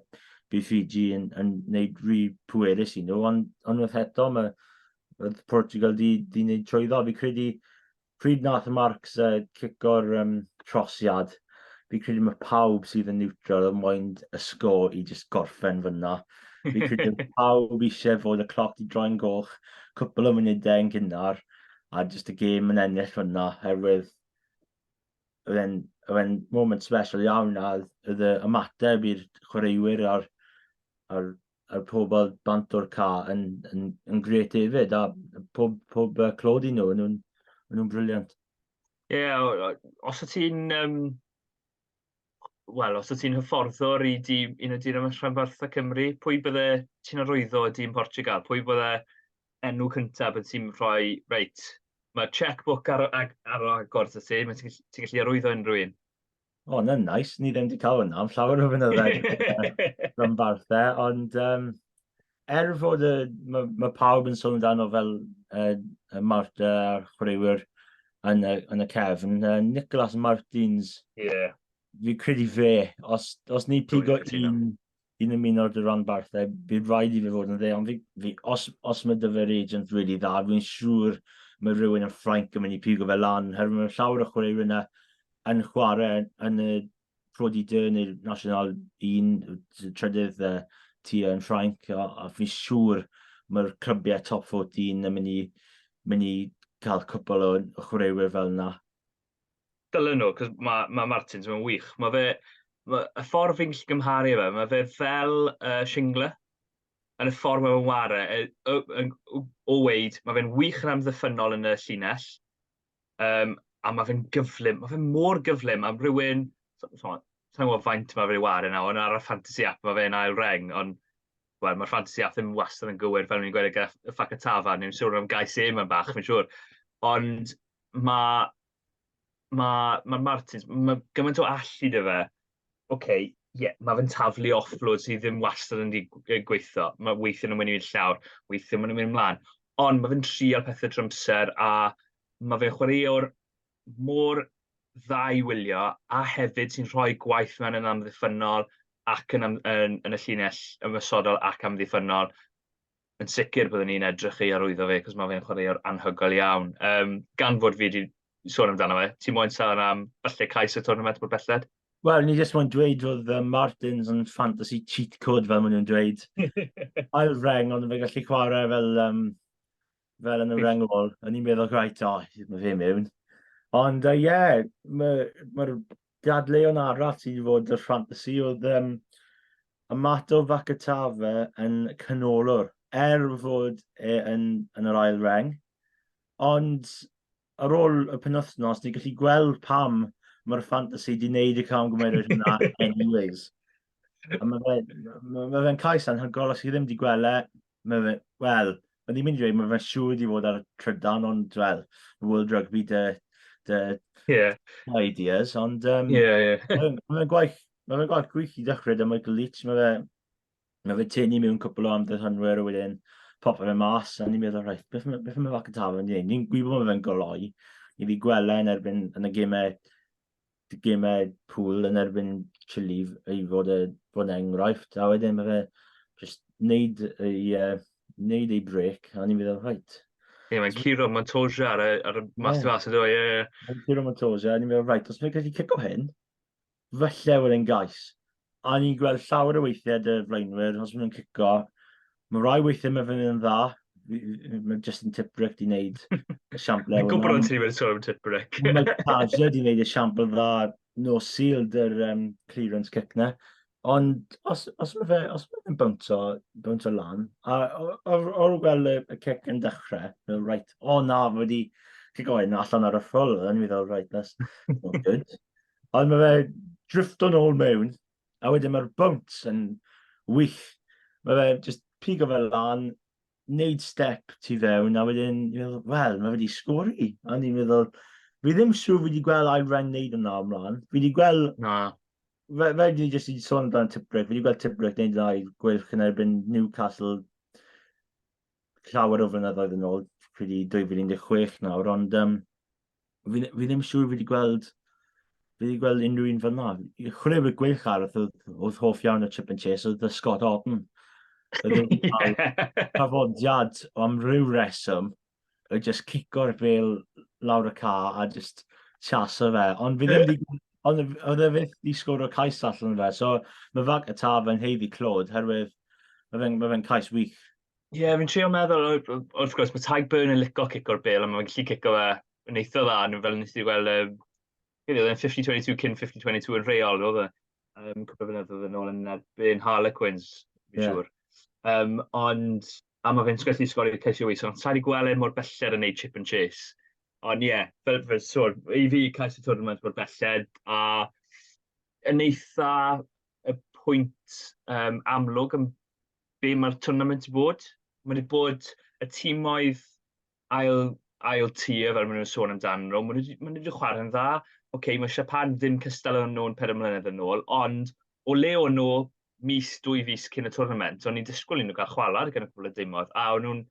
bydd Fiji yn, yn gwneud rhy pwerus i nhw, ond unwaith eto mae Portugal di, di wneud trwyddo. Fi credu pryd nath Marks uh, cico'r um, trosiad, fi credu mae pawb sydd yn neutral yn moyn y sgo i just gorffen fyna. Fi credu mae pawb eisiau fod y cloc i droi'n goch, cwpl o munudau yn gynnar, a just y gêm yn ennill fyna, herwydd oedd e'n moment special iawn a oedd y ymateb i'r chwaraewyr a'r, ar a'r pobl bant o'r ca yn, yn, yn gret hefyd, a pob, pob uh, clod i nhw, nhw'n nhw briliant. Ie, yeah, os y ti'n, um, wel, os y ti'n hyfforddwr i di, un o dyn am rhanbarthau Cymru, pwy bydde ti'n arwyddo y dyn Portugal? Pwy bydde enw cyntaf bydde ti'n rhoi, reit, mae checkbook ar, ar, ar agor ti, ti'n gallu arwyddo unrhyw un? O, oh, na'n nice. Ni ddim wedi cael hwnna am llawer o fynyddoedd rhan barthe, ond um, er fod y, mae ma pawb yn sôn amdano fel uh, y Marta a'r chwaraewyr yn y, yn y cefn, uh, Nicholas Martins, yeah. fi credu fe, os, os ni pigo un yn ymuno â dy ranbarthau, bydd rhaid i fe fod yn dde, ond fi, fi, os, os mae dy fe'r agent really dda, fi'n siŵr mae rhywun yn Ffrainc yn mynd i pigo fe lan, herwydd mae llawer o chwaraewyr yna yn chwarae yn y Pro di Dyn neu'r National 1, trydydd uh, ti yn Ffrainc, a, a fi'n siŵr mae'r clybiau top 14 yn mynd i, mynd i cael cwpl o chwaraewyr fel yna. Dylen nhw, cos mae ma Martins, mae'n wych. Mae fe, ma, y ffordd fi'n gallu gymharu fe, mae fe fel uh, Shingler, yn y ffordd mae fe'n ware, e, o, o, o weid, mae fe'n wych yn amddiffynol yn y llinell, um, a mae fe'n gyflym, mae fe'n mor gyflym am rhywun, sa'n gwybod faint mae fe'n ware nawr, yn ar y fantasy app mae fe'n ail reng, ond well, mae'r fantasy app ddim wastad yn gywir fel ni'n gweud y Facatava, neu'n siŵr am gais e mae'n bach, fi'n siŵr. Ond mae, mae, mae Martins, mae gymaint o allu dy fe. Oce, okay, ie, yeah, mae fe'n taflu offload sydd ddim wastad yn gweithio. Mae weithio nhw'n mynd i'r llawr, weithio nhw'n mynd ymlaen. Ond mae fe'n trial pethau trymser a mae fe'n chwaraewr mor dda i wylio a hefyd sy'n rhoi gwaith mewn yn amddiffynol ac yn, yn, yn y llinell ymwysodol ac amddiffynol. yn sicr byddwn ni'n edrych ei arwyddo fe, cos mae fe'n chwaraewr anhygoel iawn. Um, gan fod fi wedi sôn amdano fe, ti moyn sôn am falle cais y tournament bod belled? Wel, ni jyst moyn dweud fod uh, Martins yn fantasy cheat code fel maen nhw'n dweud. Ail reng, ond fe gallu chwarae fel, um, fel yn y reng ôl. Yn i'n meddwl, rhaid, o, oh, mae fe mewn. Ond, ie, uh, yeah, mae'r ma dadleuon arall sydd wedi fod y ffantasi oedd um, Amato Vakatave yn canolwr, er fod e yn, yn yr ail reng. Ond ar ôl y penwthnos, ni'n gallu gweld pam mae'r ffantasi di wneud y cam gymeriad hwnna anyways. Mae fe'n ma fe cais anhygol, os chi ddim wedi gweld e, Mae fe... wel, o'n i'n mynd i ddweud mae fe'n siŵr wedi bod ar y trydan, ond wel, World Rugby dy dy... Ie. ...ideas, ond yym... Ie, ie. ...mae fe'n mae fe'n gwaith mae fe'n gwaith gwych i ddechrau 'da Michael Leach, mae fe mae fe'n tynnu mewn cwpl o amddiffynwyr a wedyn popio fe mas a ni'n meddwl reit beth ma' beth ma' Mac y Tafod yn ei wneud? Ni'n gwybod bod fe'n goloi, ni 'di gweld e yn erbyn yn y gemau gemau pŵl yn erbyn Chile i fod, e, fod enghraifft, a wedyn mae fe just wneud ei, uh, wneud ei brec, a ni'n meddwl, rhaid. Ie, yeah, mae'n curo Montoya ar y, ar y mas yeah. mas, ie, ie. Yeah. Mae'n curo Montoya, a ni'n meddwl, rhaid, os mae'n gallu cico hyn, falle wedi'n gais. a ni'n gweld llawer o weithiau dy flaenwyr, os maen nhw'n cico, mae rhai weithiau mae fe'n yn dda, mae Justin Tiprick di wneud y siample. Mae'n gwybod o'n ti wedi sôn am Tiprick. mae Tadger di wneud y siample dda, no seal, dy'r um, clearance kick na. Ond os, os mae fe, os mae fe'n bwntio, bwntio lan, a o'r gweld y, y cic yn dechrau, fel, right, o oh, na, wedi cic oed na allan ar y ffwl, yn i fel, right, that's not good. Ond mae fe drifft o'n ôl mewn, a wedyn mae'r bwnt yn wych. Mae fe just pigo fe lan, neud step tu fewn, a wedyn, wel, mae fe wedi sgori. A ni'n meddwl, fi ddim siŵr fi wedi gweld Iran neud yna ymlaen. Fi wedi gweld... Na. Fe, fe wedi jyst i sôn amdano Tibrick, fi wedi gweld Tibrick neud yna i gwylch yn erbyn Newcastle llawer o flynyddoedd yn ôl, pryd i 2016 nawr, ond um, fi, fi ddim siŵr fi wedi gweld fi wedi gweld unrhyw un fel na. Chwilio y gwych ar oedd, oedd hoff iawn o Chip and Chase oedd Scott Orton. Tafodiad am rhyw reswm oedd just cico'r bel lawr y ca a just chaso fe. Ond fi ddim wedi Ond oedd e fyth i sgwr o cais allan fe, so mae fag y taf yn heiddi clod, herwydd mae fe'n ma fe cais wych. Ie, yeah, fi'n trio meddwl, wrth gwrs, mae Tadhg Byrne yn licio cico'r bel, a mae'n gallu cico fe yn eitha dda, nhw fel nes i weld, um, oedd e'n 50-22 cyn 50-22 yn reol, oedd e, um, cwpl o fynyddoedd yn ôl yn erbyn Harlequins, fi'n yeah. siŵr. Um, ond, A ma fe'n gallu sgorio ceisiau wych, ond saif i gweld e mor belled yn neud chip and chase. Ond ie, yeah, fel, fel sôn, i fi cais y tournament mor belled, a yn eitha y pwynt um, amlwg yn be mae'r tournament i bod. Mae wedi bod y tîmoedd ail, ail tir fel maen nhw'n sôn amdano nhw, maen nhw wedi chwarae'n dda. OK, mae Siapan ddim cystal o'n nhw'n peder mlynedd yn ôl, ond o le o'n nhw mis, dwy fis cyn y twrnament, o'n i'n disgwyl i nhw gael chwalad gan y cwbl y dimodd, a o'n nhw'n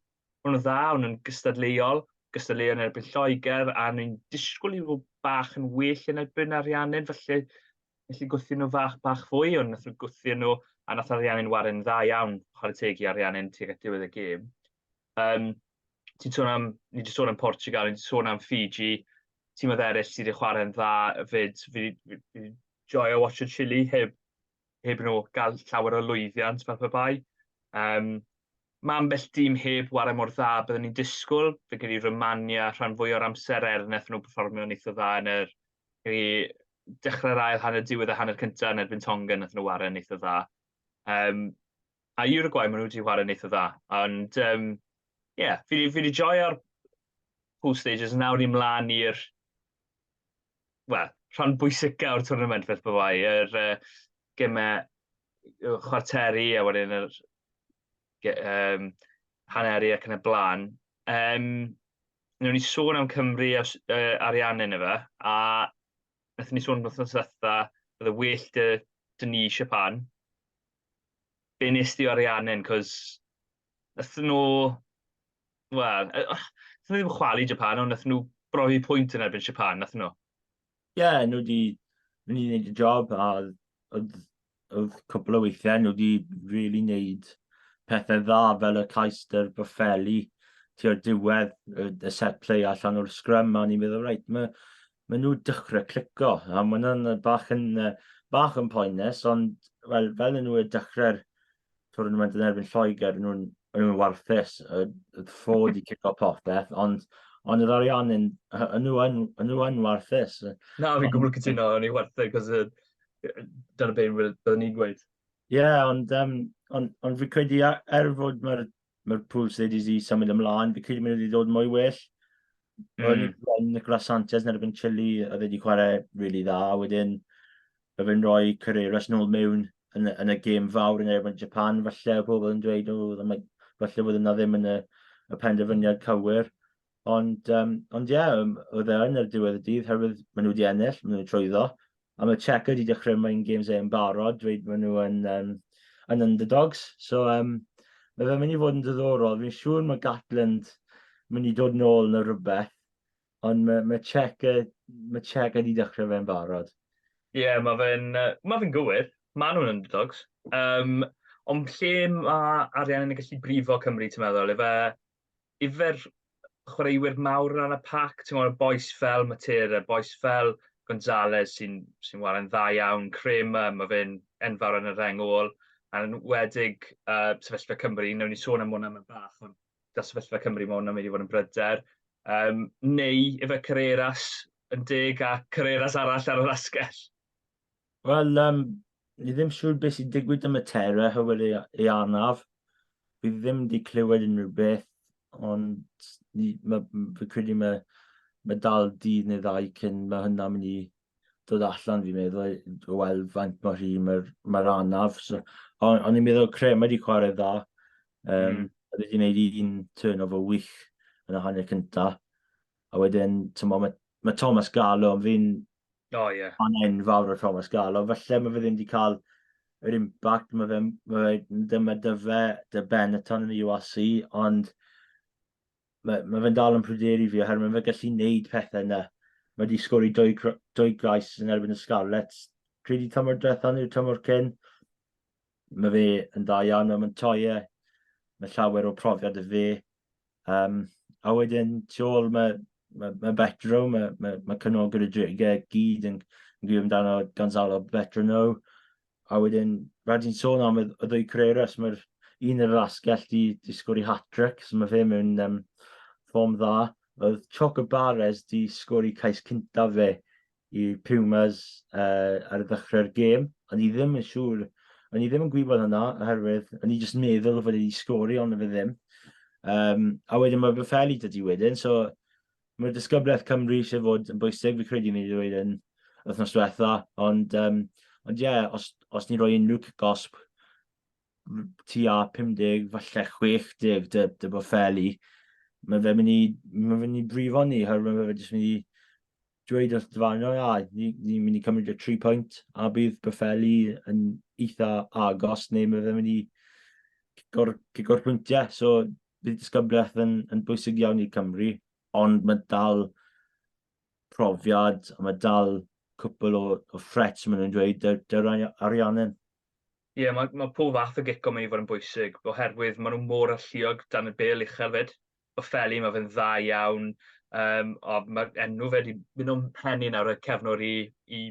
o'n nhw dda, o'n nhw'n gystadleuol, gystadleuol yn erbyn Lloegr, a o'n i'n disgwyl i nhw bach yn well yn erbyn Ariannin, felly felly gwthio nhw fach, bach fwy, ond nath nhw gwthio nhw, a nath Ariannin warin dda iawn, chwarae teg i Ariannin tuag at diwedd y gêm. Yym, ti'n sôn am... ni 'di sôn am Portugal, ni 'di sôn am Fiji, timoedd eraill sydd wedi chwarae'n dda 'fyd. Fi 'di fi 'di joio watsio Chile heb heb nhw gael llawer o lwyddiant fel pe bai. Yym, ma' ambell dîm heb ware mor dda bydden ni'n disgwyl, fi'n credu Romania rhan fwya o'r amser er wnaethon nhw perfformio'n eitha dda yn yr i dechrau'r ail hanner diwedd y hanner cynta yn erbyn Tonga wnaethon nhw ware'n eitha dda. Yym, A Uruguay, maen nhw wedi chwarae'n eitha dda. Ond, um, yeah, fi wedi joio'r pool stages, nawr ni mlaen i'r well, rhan bwysica o'r tournament fel bod fai, yr uh, gemau chwarteri a wedyn yr um, haneri ac yn y blaen. Um, Nw'n ni sôn am Cymru a, uh, arian yn efe, a wnaethon ni sôn wrth nos ddiwetha, oedd y well dy, dy ni Siapan, be nes di o Arianen, cos nath nhw, wel, nath nhw ddim chwalu Japan, ond nath nhw brofi pwynt yn erbyn Japan, nath nhw? Ie, yeah, nhw wedi mynd i wneud y job, a oedd, oedd cwpl o weithiau nhw wedi really wneud pethau dda fel y cais dy'r Boffelli tua'r diwedd y, y set play allan o'r sgrym a ni'n meddwl, reit, mae maen nhw dechrau clico, a maen nhw'n bach yn, bach yn poenus, ond fel, fel yn nhw dechrau'r tournament yn erbyn Lloegr, maen nhw'n nhw, nhw warthus, y, y ffod i cico popeth, ond ond yr arian yn, yn nhw yn, yn nhw yn warthus. Na, fi'n gwbl cytuno, o'n i warthus, cos dyna beth byddwn ni'n gweud. Ie, yeah, ond, um, ond, ond fi'n credu er fod mae'r mae'r Pools dweud i di symud ymlaen, fi credu mae wedi dod mwy well. Mm. O'n i bron Nicolas Sanchez yn erbyn Chile, a fe wedi chwarae really dda, a wedyn mae fe'n rhoi Carreras nôl mewn yn, yn y gêm fawr yn erbyn Japan, falle o pobl yn dweud, o, ddim, falle bod yna ddim yn y, y penderfyniad cywir, Ond, um, ond ie, yeah, oedd e yn yr diwedd y dydd, herwydd maen nhw wedi ennill, maen nhw'n trwyddo. A mae Checa wedi dechrau mae'n games e'n barod, dweud maen nhw yn, um, yn underdogs. So, um, mae fe'n mynd i fod yn ddiddorol. Fi'n siŵr mae Gatland mynd i dod nôl yn y rhywbeth, ond mae, mae Checa, mae Checa wedi dechrau fe'n barod. Ie, yeah, mae fe'n ma fe gywir. Mae nhw'n underdogs. Um, ond lle mae arian yn gallu brifo Cymru, ti'n meddwl? Efe yfed chwaraewyr mawr yn rhan y pac, ti'n gwybod, boes fel Matera, boes fel Gonzalez sy'n sy ware'n dda iawn, Kramer, mae fe'n enfawr yn y rheng ôl, a'n wedig uh, sefyllfa Cymru, newn ni sôn am hwnna mewn bach, ond da sefyllfa Cymru mae hwnna'n mynd i fod yn bryder. Um, neu efe Carreras yn deg a Carreras arall ar yr asgell. Wel, um, ni ddim siŵr beth sy'n digwydd am y terra hywel ei, ei anaf. Fi ddim wedi clywed unrhyw beth, ond ni, ma, fi credu mae, mae dal dydd neu ddau cyn mae hynna'n mynd i dod allan, fi'n meddwl, o weld faint mor hi mae'r ma anaf. So, on, on i'n meddwl cre, mae wedi chwarae dda. Um, mm. Wedi gwneud un turn o fo wych yn y hanner cyntaf. A wedyn, tymod, mae, mae Thomas Gallo, fi'n oh, yeah. fan enfawr o Thomas Gallo, felly mae fe ddim wedi cael yr impact, mae fe, mae fe dyma dyfe, dy Benetton yn y URC, ond mae, mae fe'n dal yn pryderu fi, oherwydd mae fe gallu neud pethau yna. Mae wedi sgori dwy, dwy gais yn erbyn y Scarlets, credu tymor drethon i'r tymor cyn. Mae fe yn dda iawn mewn Montoya, mae llawer o profiad y fe. Um, a wedyn, tu ôl, mae, mae, mae Betro, mae, mae, mae cynnol gyda Drigau gyd yn, yn gwybod amdano Gonzalo Betrono. A wedyn, rhaid i'n sôn am y, y ddwy Carreras, mae'r un yr asgell di, di sgori hat-trick, so mae fe mewn um, ffom dda. Oedd Choco Barres di sgori cais cyntaf fe i Pumas uh, ar ddechrau'r gêm. O'n i ddim yn siŵr, o'n i ddim yn gwybod hynna, oherwydd o'n i jyst yn meddwl fod wedi sgori, ond fe ddim. Um, a wedyn mae fy ffeli dydy wedyn, so mae'r disgyblaeth Cymru eisiau fod yn bwysig, fi credu ni wedi dweud yn wythnos diwetha, ond um, Ond ie, yeah, os, os ni roi unrhyw gosb tu a 50, falle 60, dy, dy bod ffeli, mae fe mynd i, mae fe mynd i brifo ni, herwydd mae fe jyst mynd i dweud wrth dy farn, ia, ni'n ni mynd i cymryd y tri pwynt, a bydd Betheli yn eitha agos, neu mae fe'n mynd i gigor, gigor pwyntiau. So, bydd disgyblaeth yn, yn bwysig iawn i Cymru, ond mae dal profiad, a mae dal cwpl o, o threats, maen nhw'n dweud, dy'r dy Arianen. Ie, yeah, mae, mae pob fath o gico mynd i fod yn bwysig, oherwydd maen nhw mor alluog dan y bel uchel fyd. Ofeli, mae fe'n dda iawn. Um, o, mae'r enw fe wedi mynd o'n pen i nawr, y cefnwr i, i,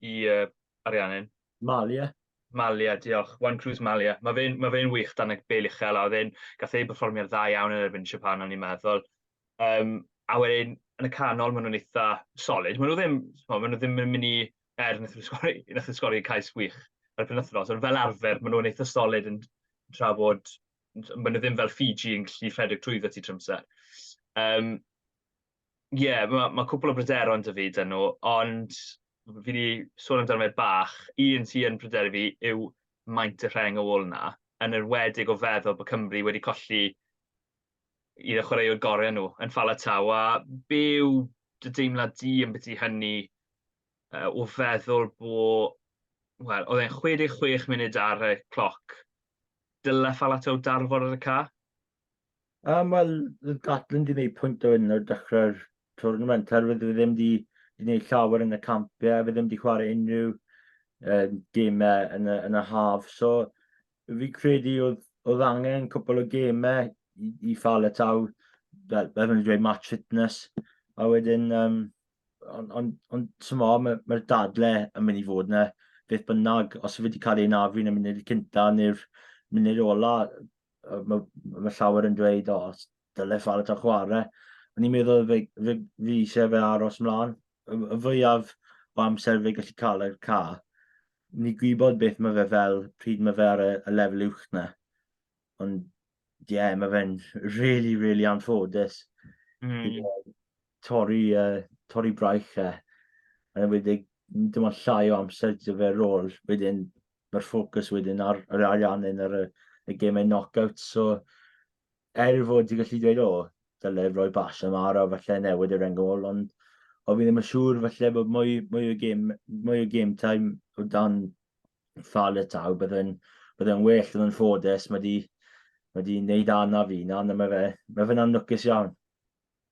i uh, Ariannin. Malia. Malia, diolch. Juan Cruz Malia. Mae fe'n ma fe wych dan y bel uchel, a oedd e'n gath ei berfformio'n dda iawn yn erbyn Japan, o'n i'n meddwl. Um, a wedyn, yn y canol, maen nhw'n eitha solid. Maen nhw ddim, maen nhw ddim yn mynd i er nath nhw sgori, nath nhw sgori cais wych ar y penwthnos, ond fel arfer, maen nhw'n eitha solid yn tra bod maen nhw ddim fel Fiji yn gallu rhedeg trwyddo ti trwy amser. Um, Ie, yeah, mae ma cwpl o bryderon dy fi dyn nhw, ond fi wedi sôn amdano fe bach. Un sy'n yn pryderu fi yw maint y rheng ôl yna, yn yr wedig o feddwl bod Cymru wedi colli un o chwaraewr gorau nhw yn Fala Taw, a byw dy deimlad di yn beth i hynny uh, o feddwl bod, wel, oedd e'n 66 munud ar y cloc Dyle Faletau darfod ar y ca? Um, Wel, Gatlin di wneud pwynt o hyn o'r dechrau'r tournament, herwydd fe ddim di wneud llawer yn y campiau, fe ddim di chwarae unrhyw um, gemau yn y, yn y haf. So, fi credu oedd, oedd angen cwpl o gemau i, i Faletau, fel, fel yn dweud, match fitness, a wedyn um, ond on, on, tymo, mae'r ma dadle yn mynd i fod yna beth bynnag, os yw wedi cael ei nafu yn y munud cynta neu'r munud ola, mae ma llawer yn dweud, o, os dylai ffal ta chwarae. Ond i'n meddwl fe, fe, fi eisiau fe aros mlaen. Y, y fwyaf o amser fe gallu cael y ca, ni gwybod beth mae fe fel, pryd mae fe ar y, y lefel uwch na. Ond, ie, yeah, mae fe'n really, really anffodus. Mm. torri, uh, torri braich e. Yn enwedig, dim ond llai o amser dy fe rôl. Wedyn, mae'r ffocws wedyn ar yr ariannu'n ar y, y gemau knockout. So, er fod ti'n gallu dweud, o, dyle roi bas am ar o falle newid yr engol, ond o fi ddim yn siŵr falle bod mwy, mwy o gêm, mwy o game time o dan ffal y taw, byddai'n bydde well yn ffodus, mae di, mae di wneud anaf i, na, na mae fe, mae fe'n anlwcus iawn.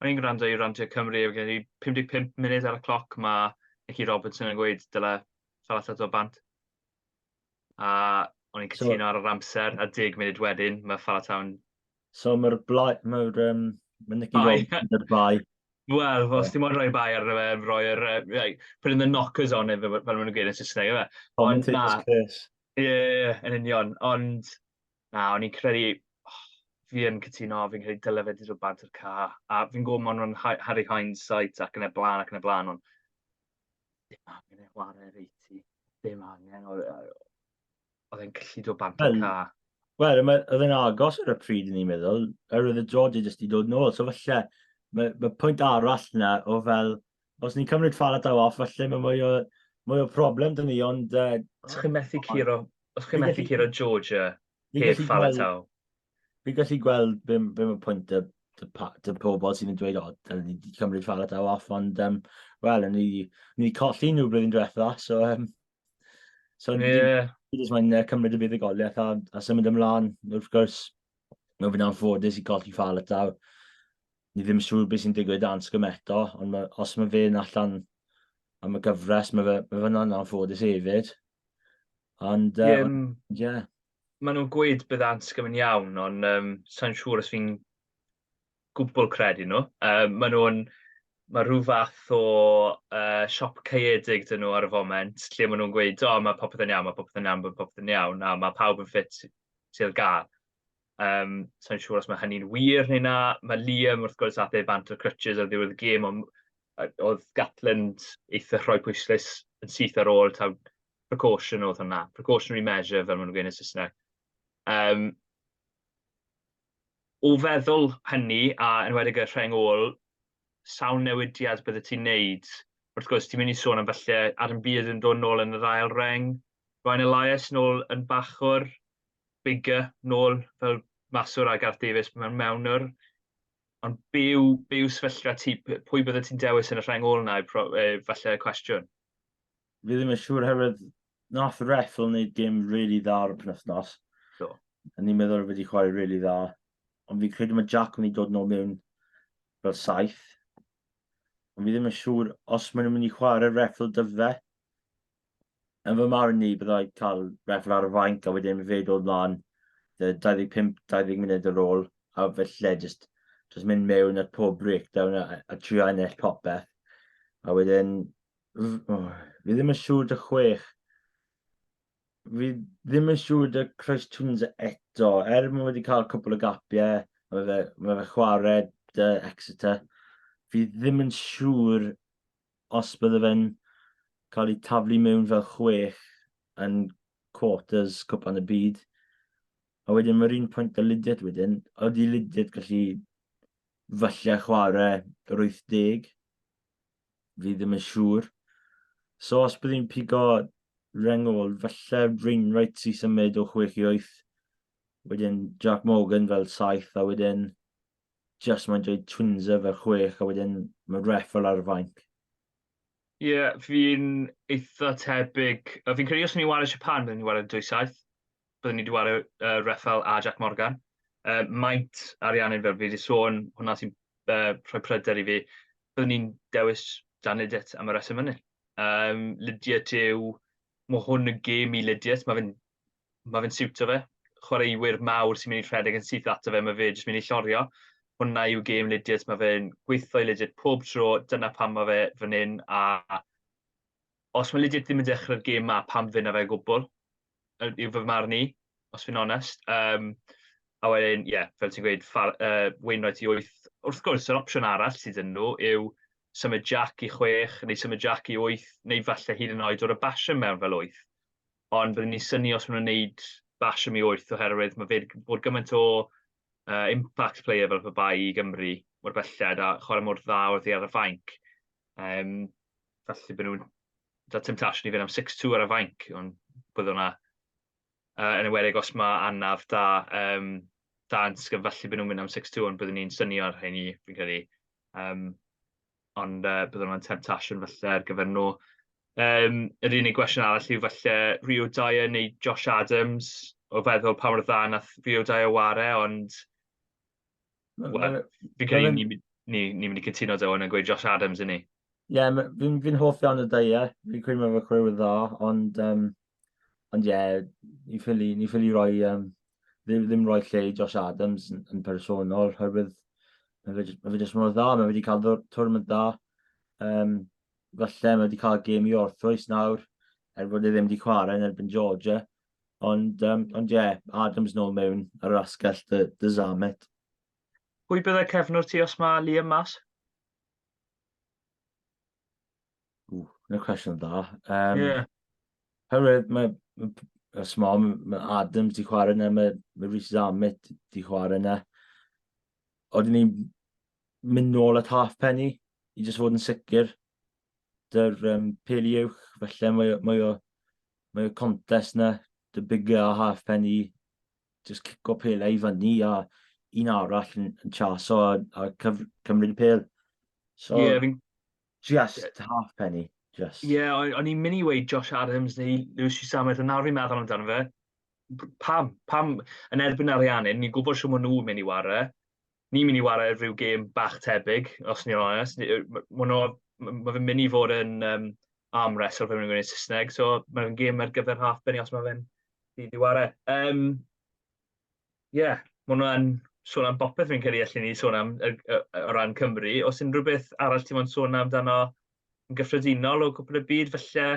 O'n i'n gwrando i Randiau Cymru ac felly 55 munud ar y cloc mae Nicky Robertson yn gweud dyle Salah setlo bant. A o'n i'n So- cytuno ar yr amser a deg munud wedyn mae Salah Town... So mae'r blae... Mae'r... Um, mae Nicky Bai. Robertson yn yr bai. Wel, os ti'n moyn rhoi bai ar fe, rhoi yr... Uh, like, put in the knockers on it, fel fel maen nhw'n gweud yn Saesneg, efe. Ond na, Commentator's curse. ie, yn union. Ond, Na, o'n i'n credu oh, fi yn cytuno, fi'n credu dyle fe 'di dod bant o'r ca, a fi'n gwybod ma' nhw'n hi- Harry hindsight ac yn y blaen ac yn y blaen, ond dim angen ei chwarae ar eighty, dim angen, oedd oedd e'n gallu dod bant o'r ca. Wel, oedd e'n agos ar y pryd yn i'n meddwl, yr oedd y drodau jyst i dod nôl, so falle mae ma pwynt arall yna o fel Os ni'n cymryd Falatau off, falle mae mwy o, mwy o problem dyn ni, ond... Uh, os chi'n methu curo, os chi'n methu curo Georgia heb Falatau? Fi'n gallu gweld be, be mae pwynt y, y, y pobl sy'n yn dweud, o, dyn ni wedi cymryd Falatau off, ond, um, wel, ni, ni colli nhw blwyddyn diwetha, so... Um, so yeah. Ni jyst mae'n cymryd y buddugoliaeth a, a symud ymlaen, wrth gwrs, mae'n fynd am ffodus i golli Falatau. ni ddim yn siŵr beth sy'n digwydd dan sgym eto, ond ma, os mae fe'n allan am y gyfres, mae fe, ma fe'n anffodus hefyd. Ond, ie. Um, yeah. Maen nhw'n gweud bydd Anscom yn iawn, ond um, sa'n siŵr os fi'n gwbl credu nhw. Um, maen nhw'n mae rhyw fath o uh, siop caeedig dyn nhw ar y foment, lle maen nhw'n gweud, o, oh, mae popeth yn iawn, mae popeth yn iawn, mae popeth yn iawn, a mae pawb yn ffit sydd gael. Um, Sa'n siŵr os mae hynny'n wir neu na. Mae Liam, wrth gwrs, athau bant o'r crutches ar ddiwedd y gêm, ond oedd Gatland eitha rhoi pwyslais yn syth ar ôl taw precaution oedd hwnna, precautionary measure fel maen nhw'n gwneud yn Saesneg. Um, o feddwl hynny, a yn wedi y rheng ôl, sawl newidiad bydde ti'n neud? Wrth gwrs, ti'n mynd i sôn am felly Adam Beard yn dod nôl yn yr ail reng, Ryan Elias nôl yn bachwr, Biggar, nôl fel maswr ar Gareth Davies mewn mewnwr, ond be yw, be yw sefyllfa ti, pwy bydde ti'n dewis yn y rheng ôl na, falle y cwestiwn? Fi ddim yn siŵr herwydd nath Reffel wneud gêm really dda ar y penwythnos. Do. A ni'n meddwl fe wedi chwarae really dda. Ond fi'n credu mae Jack yn mynd i dod nôl mewn fel saith. Ond fi ddim yn siŵr os maen nhw'n mynd i chwarae Reffel dyfe. yn fy marn i, byddai cael reffl ar y fainc a wedyn fe dod mlaen 25-20 munud ar ôl, a felly just, just mynd mewn at pob breakdown a, a trio ennill popeth. A wedyn, oh, fi ddim yn siŵr dy chwech. Fi ddim yn siŵr dy Christ Tunes eto, er mae wedi cael cwpl o gapiau, mae fe, mae fe chwarae dy Exeter. Fi ddim yn siŵr os bydde fe'n cael ei taflu mewn fel chwech yn quarters cwpan y byd, a wedyn mae'r un pwynt â Lydiate wedyn, ydy Lydiate gallu falle chwarae yr 80? Fi ddim yn siŵr. So os bydd hi'n pigo Rengol, falle Wainwright sy'n symud o 6 i 8, wedyn Jac Morgan fel 7, a wedyn just mae'n dweud twinser fel chwech a wedyn mae ref fel ar y fainc. Ie, yeah, fi'n eitha tebyg. A fi'n credu os ni'n wario Japan, byddwn ni'n wario dwy saith. Byddwn ni wedi wario uh, Reffel a Jack Morgan. Uh, maint ariannu'n fel fi wedi sôn, hwnna sy'n uh, rhoi pryder i fi. Byddwn ni'n dewis Dan Lydiat am y reswm hynny. Um, Lydiat yw, mae hwn yn gêm i Lydiat, mae fe'n mae fe'n siwtio fe. Chwaraewyr mawr sy'n mynd i rhedeg yn syth ato fe, mae fe jyst mynd i llorio. Hwna yw gêm Lidiot, mae fe'n gweithio i Lidiot pob tro, dyna pam mae fe fan hyn, a os mae Lidiot ddim yn dechrau'r gêm ma, pam fyna fe gwbl, yw fy marn i, os fi'n onest. Um, a wedyn, ie, yeah, fel ti'n gweud, far, uh, Wainwright i 8. Wrth gwrs, yr opsiwn arall sydd yn nhw yw symud Jack i 6, neu symud Jack i 8, neu falle hyd yn oed o'r y basio mewn fel 8. Ond byddwn ni'n syni os maen nhw'n wneud bash am i wyth oherwydd mae fe bod gymaint o uh, impact player fel pe bai i Gymru mor belled a chwarae mor dda wrth i ar y fainc. Um, felly byddwn nhw'n da temptation i fynd am 6-2 ar y fainc, ond bydd hwnna uh, yn ymwedig os mae anaf da um, dan sgyn, felly byddwn nhw'n mynd am 6-2, ond byddwn ni'n syni ar hyn i, fi'n credu. Um, ond uh, byddwn yn temptasiwn falle ar gyfer nhw. Um, yr unig gwestiwn arall yw falle Rio Dyer neu Josh Adams o feddwl pa mor dda nath Rio Dyer ware, ond well, fi'n credu ni'n ni, ni, ni mynd i cytuno dy hwn yn gweud Josh Adams yn ni. Ie, yeah, fi'n fi hoff iawn o Dyer, fi'n credu mae fe chwe dda, ond um, Ond ie, yeah, ni ffili, ni ffili roi, um, ddim, ddim roi lle i Josh Adams yn, yn personol, herwydd mae fe, mae fe jyst mor dda, mae fe wedi cael twrnament dda. Um, falle mae wedi cael gêm i orthwys nawr, er bod e ddim wedi chwarae yn erbyn Georgia. Ond, um, ond ie, yeah, Adams nôl mewn ar yr asgell dy, dy Zamet. Pwy byddai cefnwr ti os mae Liam mas? Ww, dyna cwestiwn da. Um, yeah. Herwydd mae, y smom, mae Adams di chwarae yna, mae, mae Rhys Zammit di chwarae yna. Oedden ni'n mynd nôl at half penny i jyst fod yn sicr. Dy'r um, peli uwch, felly mae, mae, o, mae o contest yna, dy bigger a half penny, jyst cico pelau i fyny a un arall yn, yn chaso a, a cyf, cymryd y pel. So, yeah, fi'n Just halfpenny, just. Ie, yeah, o'n i'n mynd i weud Josh Adams neu Lewis Rhys-Sameth, ond nawr fi'n meddwl amdano fe. Pam? Pam yn erbyn Ariannin? Ni'n gwybod sy'n maen nhw'n mynd i ware. Ni'n mynd i ware ar rhyw gêm bach tebyg, os ni'n onest. Mae fe'n mynd i fod yn um, arm wrestle fe mynd i'n Saesneg, so mae'n gêm ar gyfer half penny os mae fe'n mynd i ware. Um, Ie, ma' hwnna'n sôn am bopeth fi'n credu allen ni sôn am yy yy o ran Cymru. Oes unrhyw beth arall ti mo'n sôn amdano yn gyffredinol o gwpl y byd falle?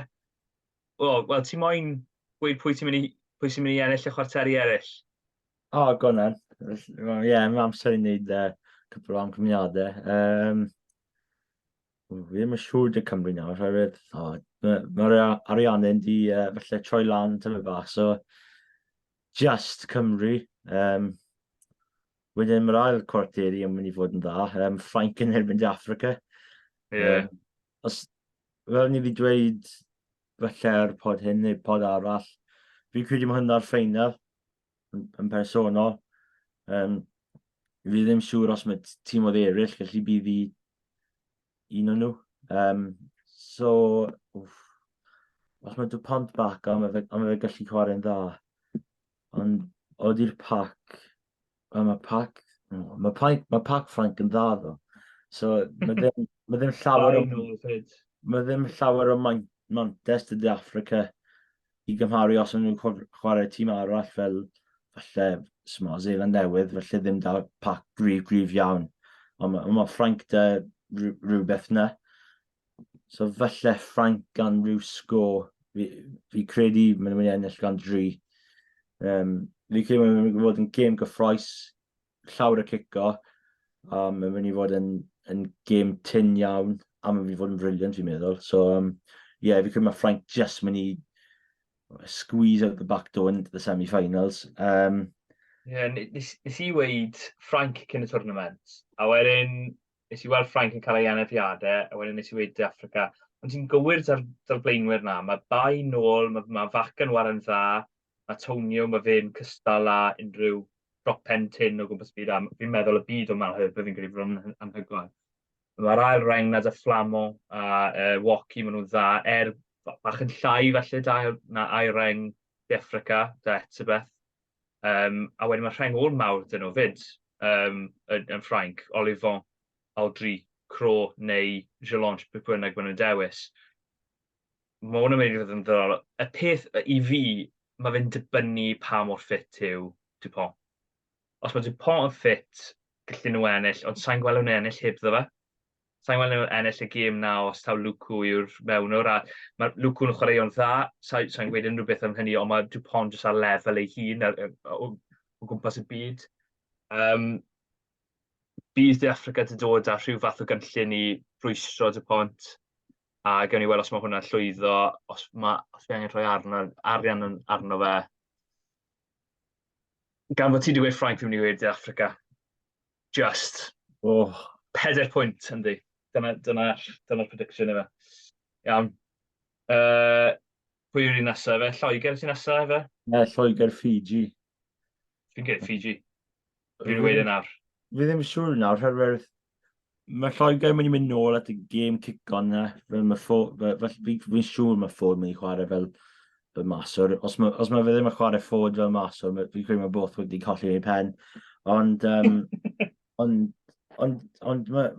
Wel, wel ti moyn gweud pwy ti'n mynd i pwy sy'n mynd i ennill y chwarteri eraill? O, go on then. Wel, Ie, mae amser i wneud uh, cwpl o amcymniadau. Um, fi ddim yn siŵr dy Cymru nawr, oherwydd oh, mae'r ma Ariannu'n di uh, falle troi lan tyfu bach, so Just Cymru. Um, wedyn mae'r ail cwarteri yn mynd i fod yn dda. Um, Ffrainc yn erbyn De Africa. Yeah. Um, os, fel ni wedi dweud falle'r pod hyn neu pod arall, fi'n credu mae hynna'r ffeinal yn, yn personol. Um, fi ddim siŵr os mae tîm oedd eraill, felly bydd i Un o'n nhw. Um, so, wff, os mae pont bac, ond mae fe, on fe gallu chwarae'n dda. Ond odi'r pac, mae pac, mae pac, mae pac Frank yn dda ddo. So, mae ddim, mae ddim llawer o... Mae ddim llawer o Mantes to the Africa i gymharu os ydyn nhw'n chwarae tîm arall fel falle Sma Zeeland Newydd, felly ddim da pac gryf gryf iawn. Ond mae, ma Ffranc da rhywbeth na. So falle Ffranc gan rhyw sgo, fi, fi credu maen nhw'n mynd i ennill gan dri. Um, fi credu maen nhw'n mynd i fod yn gêm gyffroes, llawr y cico, a mae'n mynd i fod yn, yn gêm tin iawn, a mae'n mynd i fod yn briliant fi'n meddwl. So, um, yeah, fi credu mae Ffrainc just mynd i squeeze out the back door into the semi-finals. Um, yeah, nes, nes i weid Ffrainc cyn y tournament, a wedyn nes i weld Ffrainc yn cael ei anafiadau, a wedyn nes i weid Africa. Ond ti'n gywir da'r, dar blaenwyr na, mae bai nôl, mae, mae fac yn waran dda, mae tonium a fe'n cystal â unrhyw dropen tin o gwmpas byd a fi'n meddwl y byd o Malheur, byddwn fi'n credu bod hwnna'n anhygoel. Mae'r ail reng nad a Flamo a uh, Woki, maen nhw'n dda, er bach yn llai felly da na ail reng De Africa, da Etibeth. Um, a wedyn mae rheng ôl mawr dyn nhw fyd um, yn, yn Ffrainc, Olivon, Aldri, Cro neu Gelange, beth bynnag maen nhw'n dewis. Mae hwn yn mynd i fod yn ddiddorol. Y peth i fi, mae fe'n dibynnu pa mor ffit yw Dupont. Os mae Dupont yn ffit, gallu nhw ennill, ond sa'n gweld nhw'n ennill heb ddo fe. Sa'n gweld nhw'n ennill y gêm na os taw Lukaku yw'r mewnwr, a mae Lukaku yn chwaraeo'n dda, sa'n sa gweud unrhyw beth am hynny, ond mae Dupont jyst ar lefel ei hun ar, o, o gwmpas y byd. Um, bydd De Africa wedi dod â rhyw fath o gynllun i rwystro Dupont, a gawn ni weld os mae hwnna'n llwyddo, os mae, os mae angen rhoi arno, arian arno fe. Gan fod ti wedi gweud Ffrainc, fi'n mynd i gweud De Africa. Just. O, oh. peder pwynt yndi. Dyna'r dyna, dyna prediction efe. Iawn. Uh, pwy yw'r un nesaf efe? Lloegr sy'n nesaf efe? Ne, Lloegr Fiji. Fi'n gweud Fiji. Rwy'n wedi nawr. Fi ddim siŵr nawr, rhywbeth... Mae Lloegr yn mynd i mynd nôl at y gêm cic-on na. Fel mae ffo... Fi'n siŵr mae ffod yn mynd i chwarae fel, fel maswr. Os mae, os mae fe ddim yn chwarae ffod fel maswr, fi'n credu mae both wedi colli ei pen. Ond, um, ond, ond, ond mae,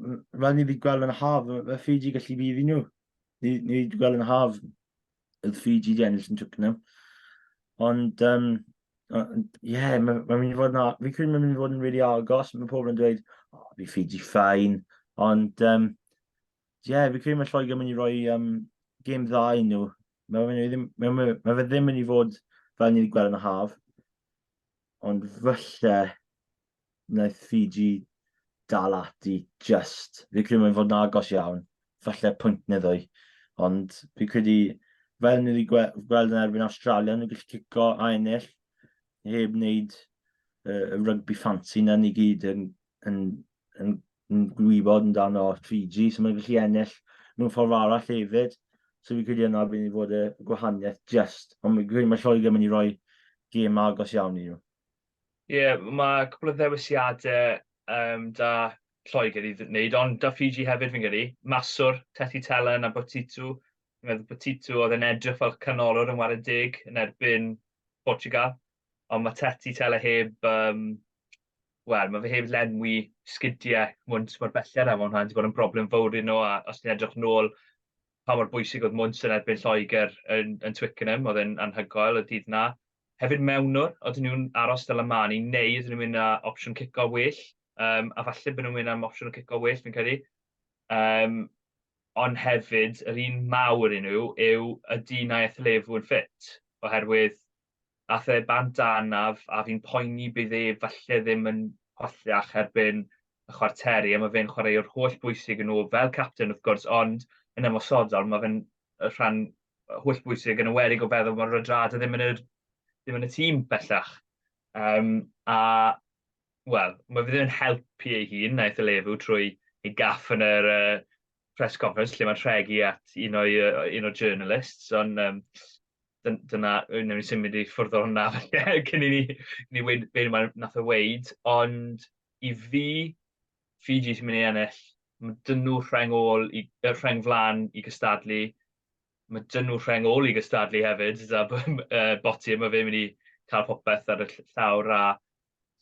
mae ni wedi gweld yn haf, mae Fiji gallu bydd i nhw. Ni, ni wedi gweld yn haf oedd Fiji di ennill yn Twickenham. Ond, um, ie, yeah, mae'n ma mynd i fod yn... Fi'n credu mae'n mynd i fod yn rili really agos. Mae pobl yn dweud, o, oh, fi Fiji ffain. Ond, ie, um, yeah, fi'n credu mae Lloegr yn mynd i roi um, gêm dda i nhw. Mae fe ddim, ma, ma, ma fe ddim yn mynd i fod fel ni wedi gweld yn y haf. Ond falle, wnaeth Fiji dal ati just. Fi'n credu mae'n fod yn agos iawn, falle pwynt neu ddwy. Ond fi'n credu, fel ni wedi gweld yn erbyn Australia, nhw'n gallu cico a ennill, heb wneud uh, y rygbi ffansi na ni gyd yn, yn, yn, yn gwybod yn dan o Fiji, so mae'n gallu ennill mewn ffordd arall hefyd. So fi'n credu yna bydd ni fod y gwahaniaeth just. Ond fi'n credu mae Lloegr mynd i roi gêm agos iawn i nhw. Ie, mae cwpl o ddewisiadau um, da Lloegr i wneud, ond da Fiji hefyd fi'n gydu. Maswr, Tethi Telen a Botitu. Fi'n meddwl Botitu oedd yn edrych fel canolwr yn wared deg yn erbyn Portugal. Ond mae Tethi Tele heb, um, wel, mae fe heb lenwi sgidiau mwnt mor belled am hwnna. Wedi bod yn broblem fawr i nhw, a os ti'n edrych nôl pa mor bwysig oedd mwnt yn erbyn Lloegr yn, yn Twickenham, oedd e'n anhygoel y dydd na. Hefyd mewnwr, ydyn nhw'n aros fel y maen nhw neu ydyn nhw'n mynd â opsiwn cico well, yym a falle bod nhw'n mynd am opsiwn o cico well fi'n credu. Yym ond hefyd yr un mawr i nhw yw ydy Nayef Levu yn ffit? Oherwydd ath e bant â anaf a fi'n poeni bydd e falle ddim yn hollach erbyn y chwarteri a mae fe'n chwaraewr holl bwysig i nhw fel capten wrth gwrs ond yn ymosodol mae fe'n rhan holl bwysig yn y werig o feddwl bod Radradra ddim yn, yr, ddim yn y tîm bellach. Um, a, wel, mae fe ddim yn helpu ei hun, naeth y lefu trwy ei gaff yn yr uh, press conference lle mae'n rhegi at un o'i, uh, un o journalists, ond um, dyna, newn ni symud i ffwrdd o hwnna cyn i ni, ni weid beth mae'n nath o weid, ond i fi, Fiji sy'n mynd i ennill. Mae dyn nhw rheng ôl, i, er rheng flan i gystadlu. Mae dyn nhw rheng ôl i gystadlu hefyd, da uh, boti, mae fe'n mynd i cael popeth ar y llawr a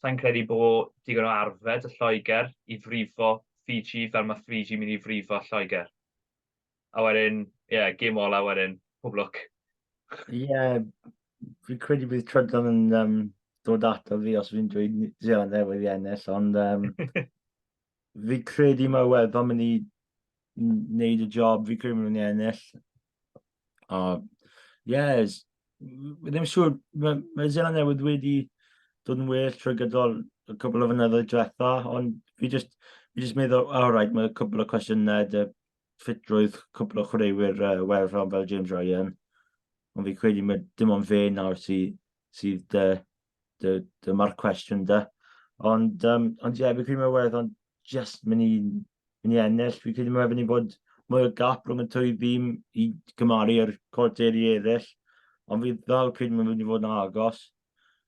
sa'n credu bod digon o arfed y Lloegr i frifo Fiji fel mae Fiji mynd i frifo Lloegr. a wedyn, ie, yeah, gêm ola wedyn, pob lwc. Ie, yeah, fi'n credu bydd Trydon yn um, dod ato fi os fi'n dweud Zealand newydd i ennill, ond um, fi credu mae Iwerddon mynd i wneud y job, fi credu mynd i ennill. O, yes, ddim siŵr, mae ma Zealand newydd wedi dod yn well trwy gydol y cwbl o fynyddoedd diwetha, ond fi just, fi just meddwl, all right, mae cwbl o cwestiynau, dy ffitrwydd cwpl o chwaraewyr uh, well rhan fel James Ryan, ond fi credu mae dim ond fe nawr sydd sy dy, dy, dy marc cwestiwn da. Ond, um, ond ie, yeah, fi credu mae werth ond just mynd i, mynd i ennill. Fi credu mae wedi bod mwy o gap rhwng y twy dîm i gymaru ar cwrteri eraill. Ond fi ddal credu mae wedi bod yn agos.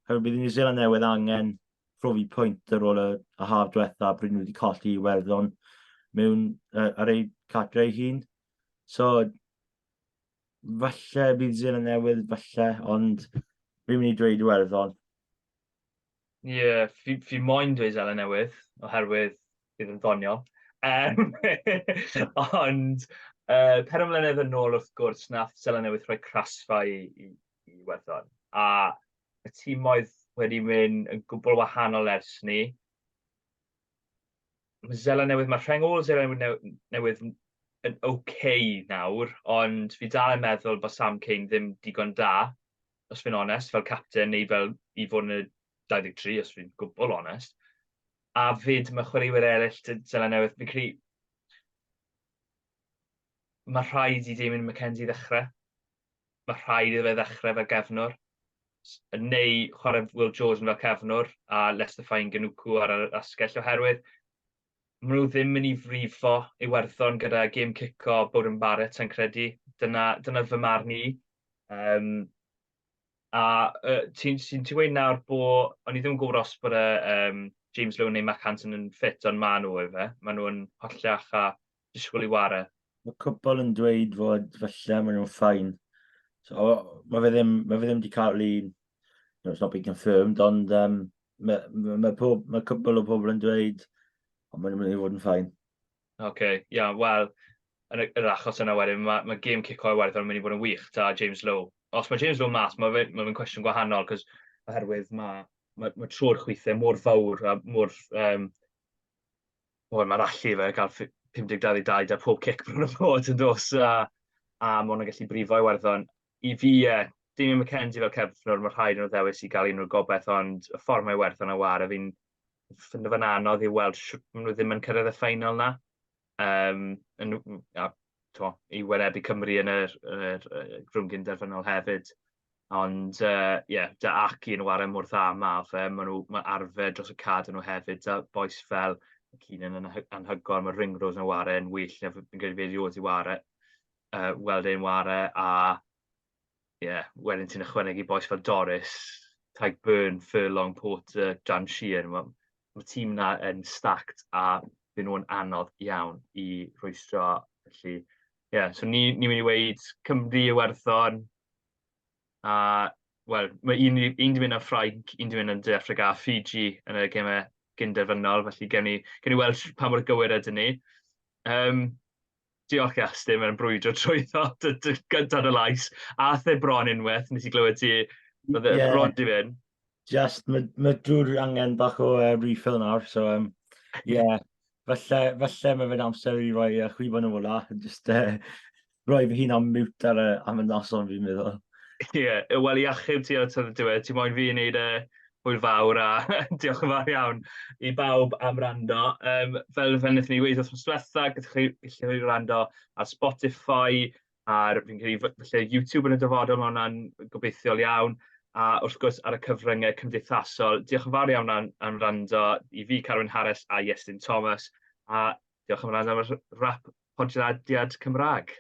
Hefyd bydd New Zealand newydd angen profi pwynt ar ôl y, y haf diwetha, bryd nhw wedi colli i werddon mewn uh, ar eu cadre ei hun. So, falle bydd New Zealand newydd, falle, ond fi'n mynd i dweud i werddon. Ie, yeah, fi, fi moyn dweud Zealand newydd, oherwydd bydd yn ddoniol. Um, ond uh, per ymwlenedd yn ôl wrth gwrs, nath Zealand newydd rhoi crasfa i, i, i Iwerddon. A y tîmoedd wedi mynd yn gwbl wahanol ers ni. Mae Zela Newydd, mae rhengol Zela Newydd, newydd yn oce okay nawr, ond fi dal yn meddwl bod Sam Kane ddim digon da, os fi'n onest, fel capten neu fel i fod yn y 23, os fi'n gwbl onest. A fyd mae chwaraewyr eraill dy Zela Newydd, fi'n credu mae rhaid i Damien McKenzie ddechrau. mae rhaid iddo fe ddechrau fel gefnwr, neu chwarae Will Jordan fel cefnwr, a Lester Fain Ganuku ar yr asgell, oherwydd maen nhw ddim yn ei frifo Iwerddon gyda gêm cico Bowden Barrett, sa'n credu. Dyna, dyna fy marn i. Um, a uh, ti'n ti, ti gweud nawr bod, o'n i ddim yn gwybod os bod y, um, James Lowe neu Mac Hansen yn ffit, ond maen nhw efe. Maen nhw'n hollach a disgwyl i ware. Mae cwpl yn dweud fod falle maen nhw'n ffain. So, mae fe ddim, mae fe ddim wedi cael ei... No, it's not been confirmed, ond um, mae, mae, mae, pob, mae cwpl o pobl yn dweud ond maen nhw'n mynd i fod yn ffain. Oce, okay, ia, yeah, wel, yn y, yr achos yna wedyn, mae, mae game cico i werth yn mynd i fod yn wych da James Lowe. Os mae James Lowe mas, mae fe'n mae fe cwestiwn gwahanol, cos oherwydd mae, mae, mae tro'r chwithau mor fawr a mor um, Wel, mae'r allu fe gael 52 i 2 da pob cic bron a bod yn dos, a, a mae hwnna'n gallu brifo i werddon. I fi, e, dim i McKenzie fel cefnwr, mae rhaid nhw ddewis i gael un o'r gobaith, ond y ffordd mae werddon a war, a fi'n ffindo fe'n anodd i weld sut maen nhw ddim yn cyrraedd y ffeinal na. Um, yn, a, to, i wynebu Cymru yn yr, yr, yr grwngyn derfynol hefyd. Ond yy ie, 'da Aki yn ware mor dda ma' fe, ma' nhw ma' arfer dros y cad yn nhw hefyd, 'da bois fel Keenan yn anhy- anhygoel, ma' Ringrose yn ware yn wych, ie fi'n credu fe erioed 'di ware yy weld e'n ware a ie wedyn ti'n ychwanegu bois fel Doris, Tadhg Beirne, Furlong, Porter, Dan Sheehan, ma' ma' tîm 'na yn stacked a bydden nhw'n anodd iawn i rhwystro, felly ie so ni ni'n mynd i weud Cymru, Iwerddon, A, wel, mae un ni... un 'di mynd am Ffrainc, un 'di mynd am De Affrica a Fiji yn y gemau cyn-derfynol, felly gewn ni gewn ni weld sh- pa mor gywir ydyn ni. Yym, diolch Iastin, mae'n brwydro trwyddo dy dy gynta yn y lais. Aeth e bron unwaith, nes i glywed ti, roedd e Ie. bron 'di mynd. Just, mae ma drwy'r angen bach o uh, refill nawr, so um, yeah. falle, falle mae fe'n amser i roi uh, chwibon yn ola, just uh, rhoi fy hun am mute ar y, am y noson fi'n meddwl. Ie, yeah, wel i achub ti at y diwedd, ti moyn fi wneud e hwyl fawr a diolch yn fawr iawn i bawb am rando. Um, fel fe wnaethon ni wedi wrth diwetha, gyda chi gallu rando ar Spotify, ar fi'n credu falle YouTube yn y dyfodol, mae hwnna'n gobeithiol iawn, a wrth gwrs ar y cyfryngau cymdeithasol. Diolch yn fawr iawn am, am rando i fi, Carwyn Harris a Iestyn Thomas, a Diolch yn fawr iawn am y rap podlediad Cymraeg.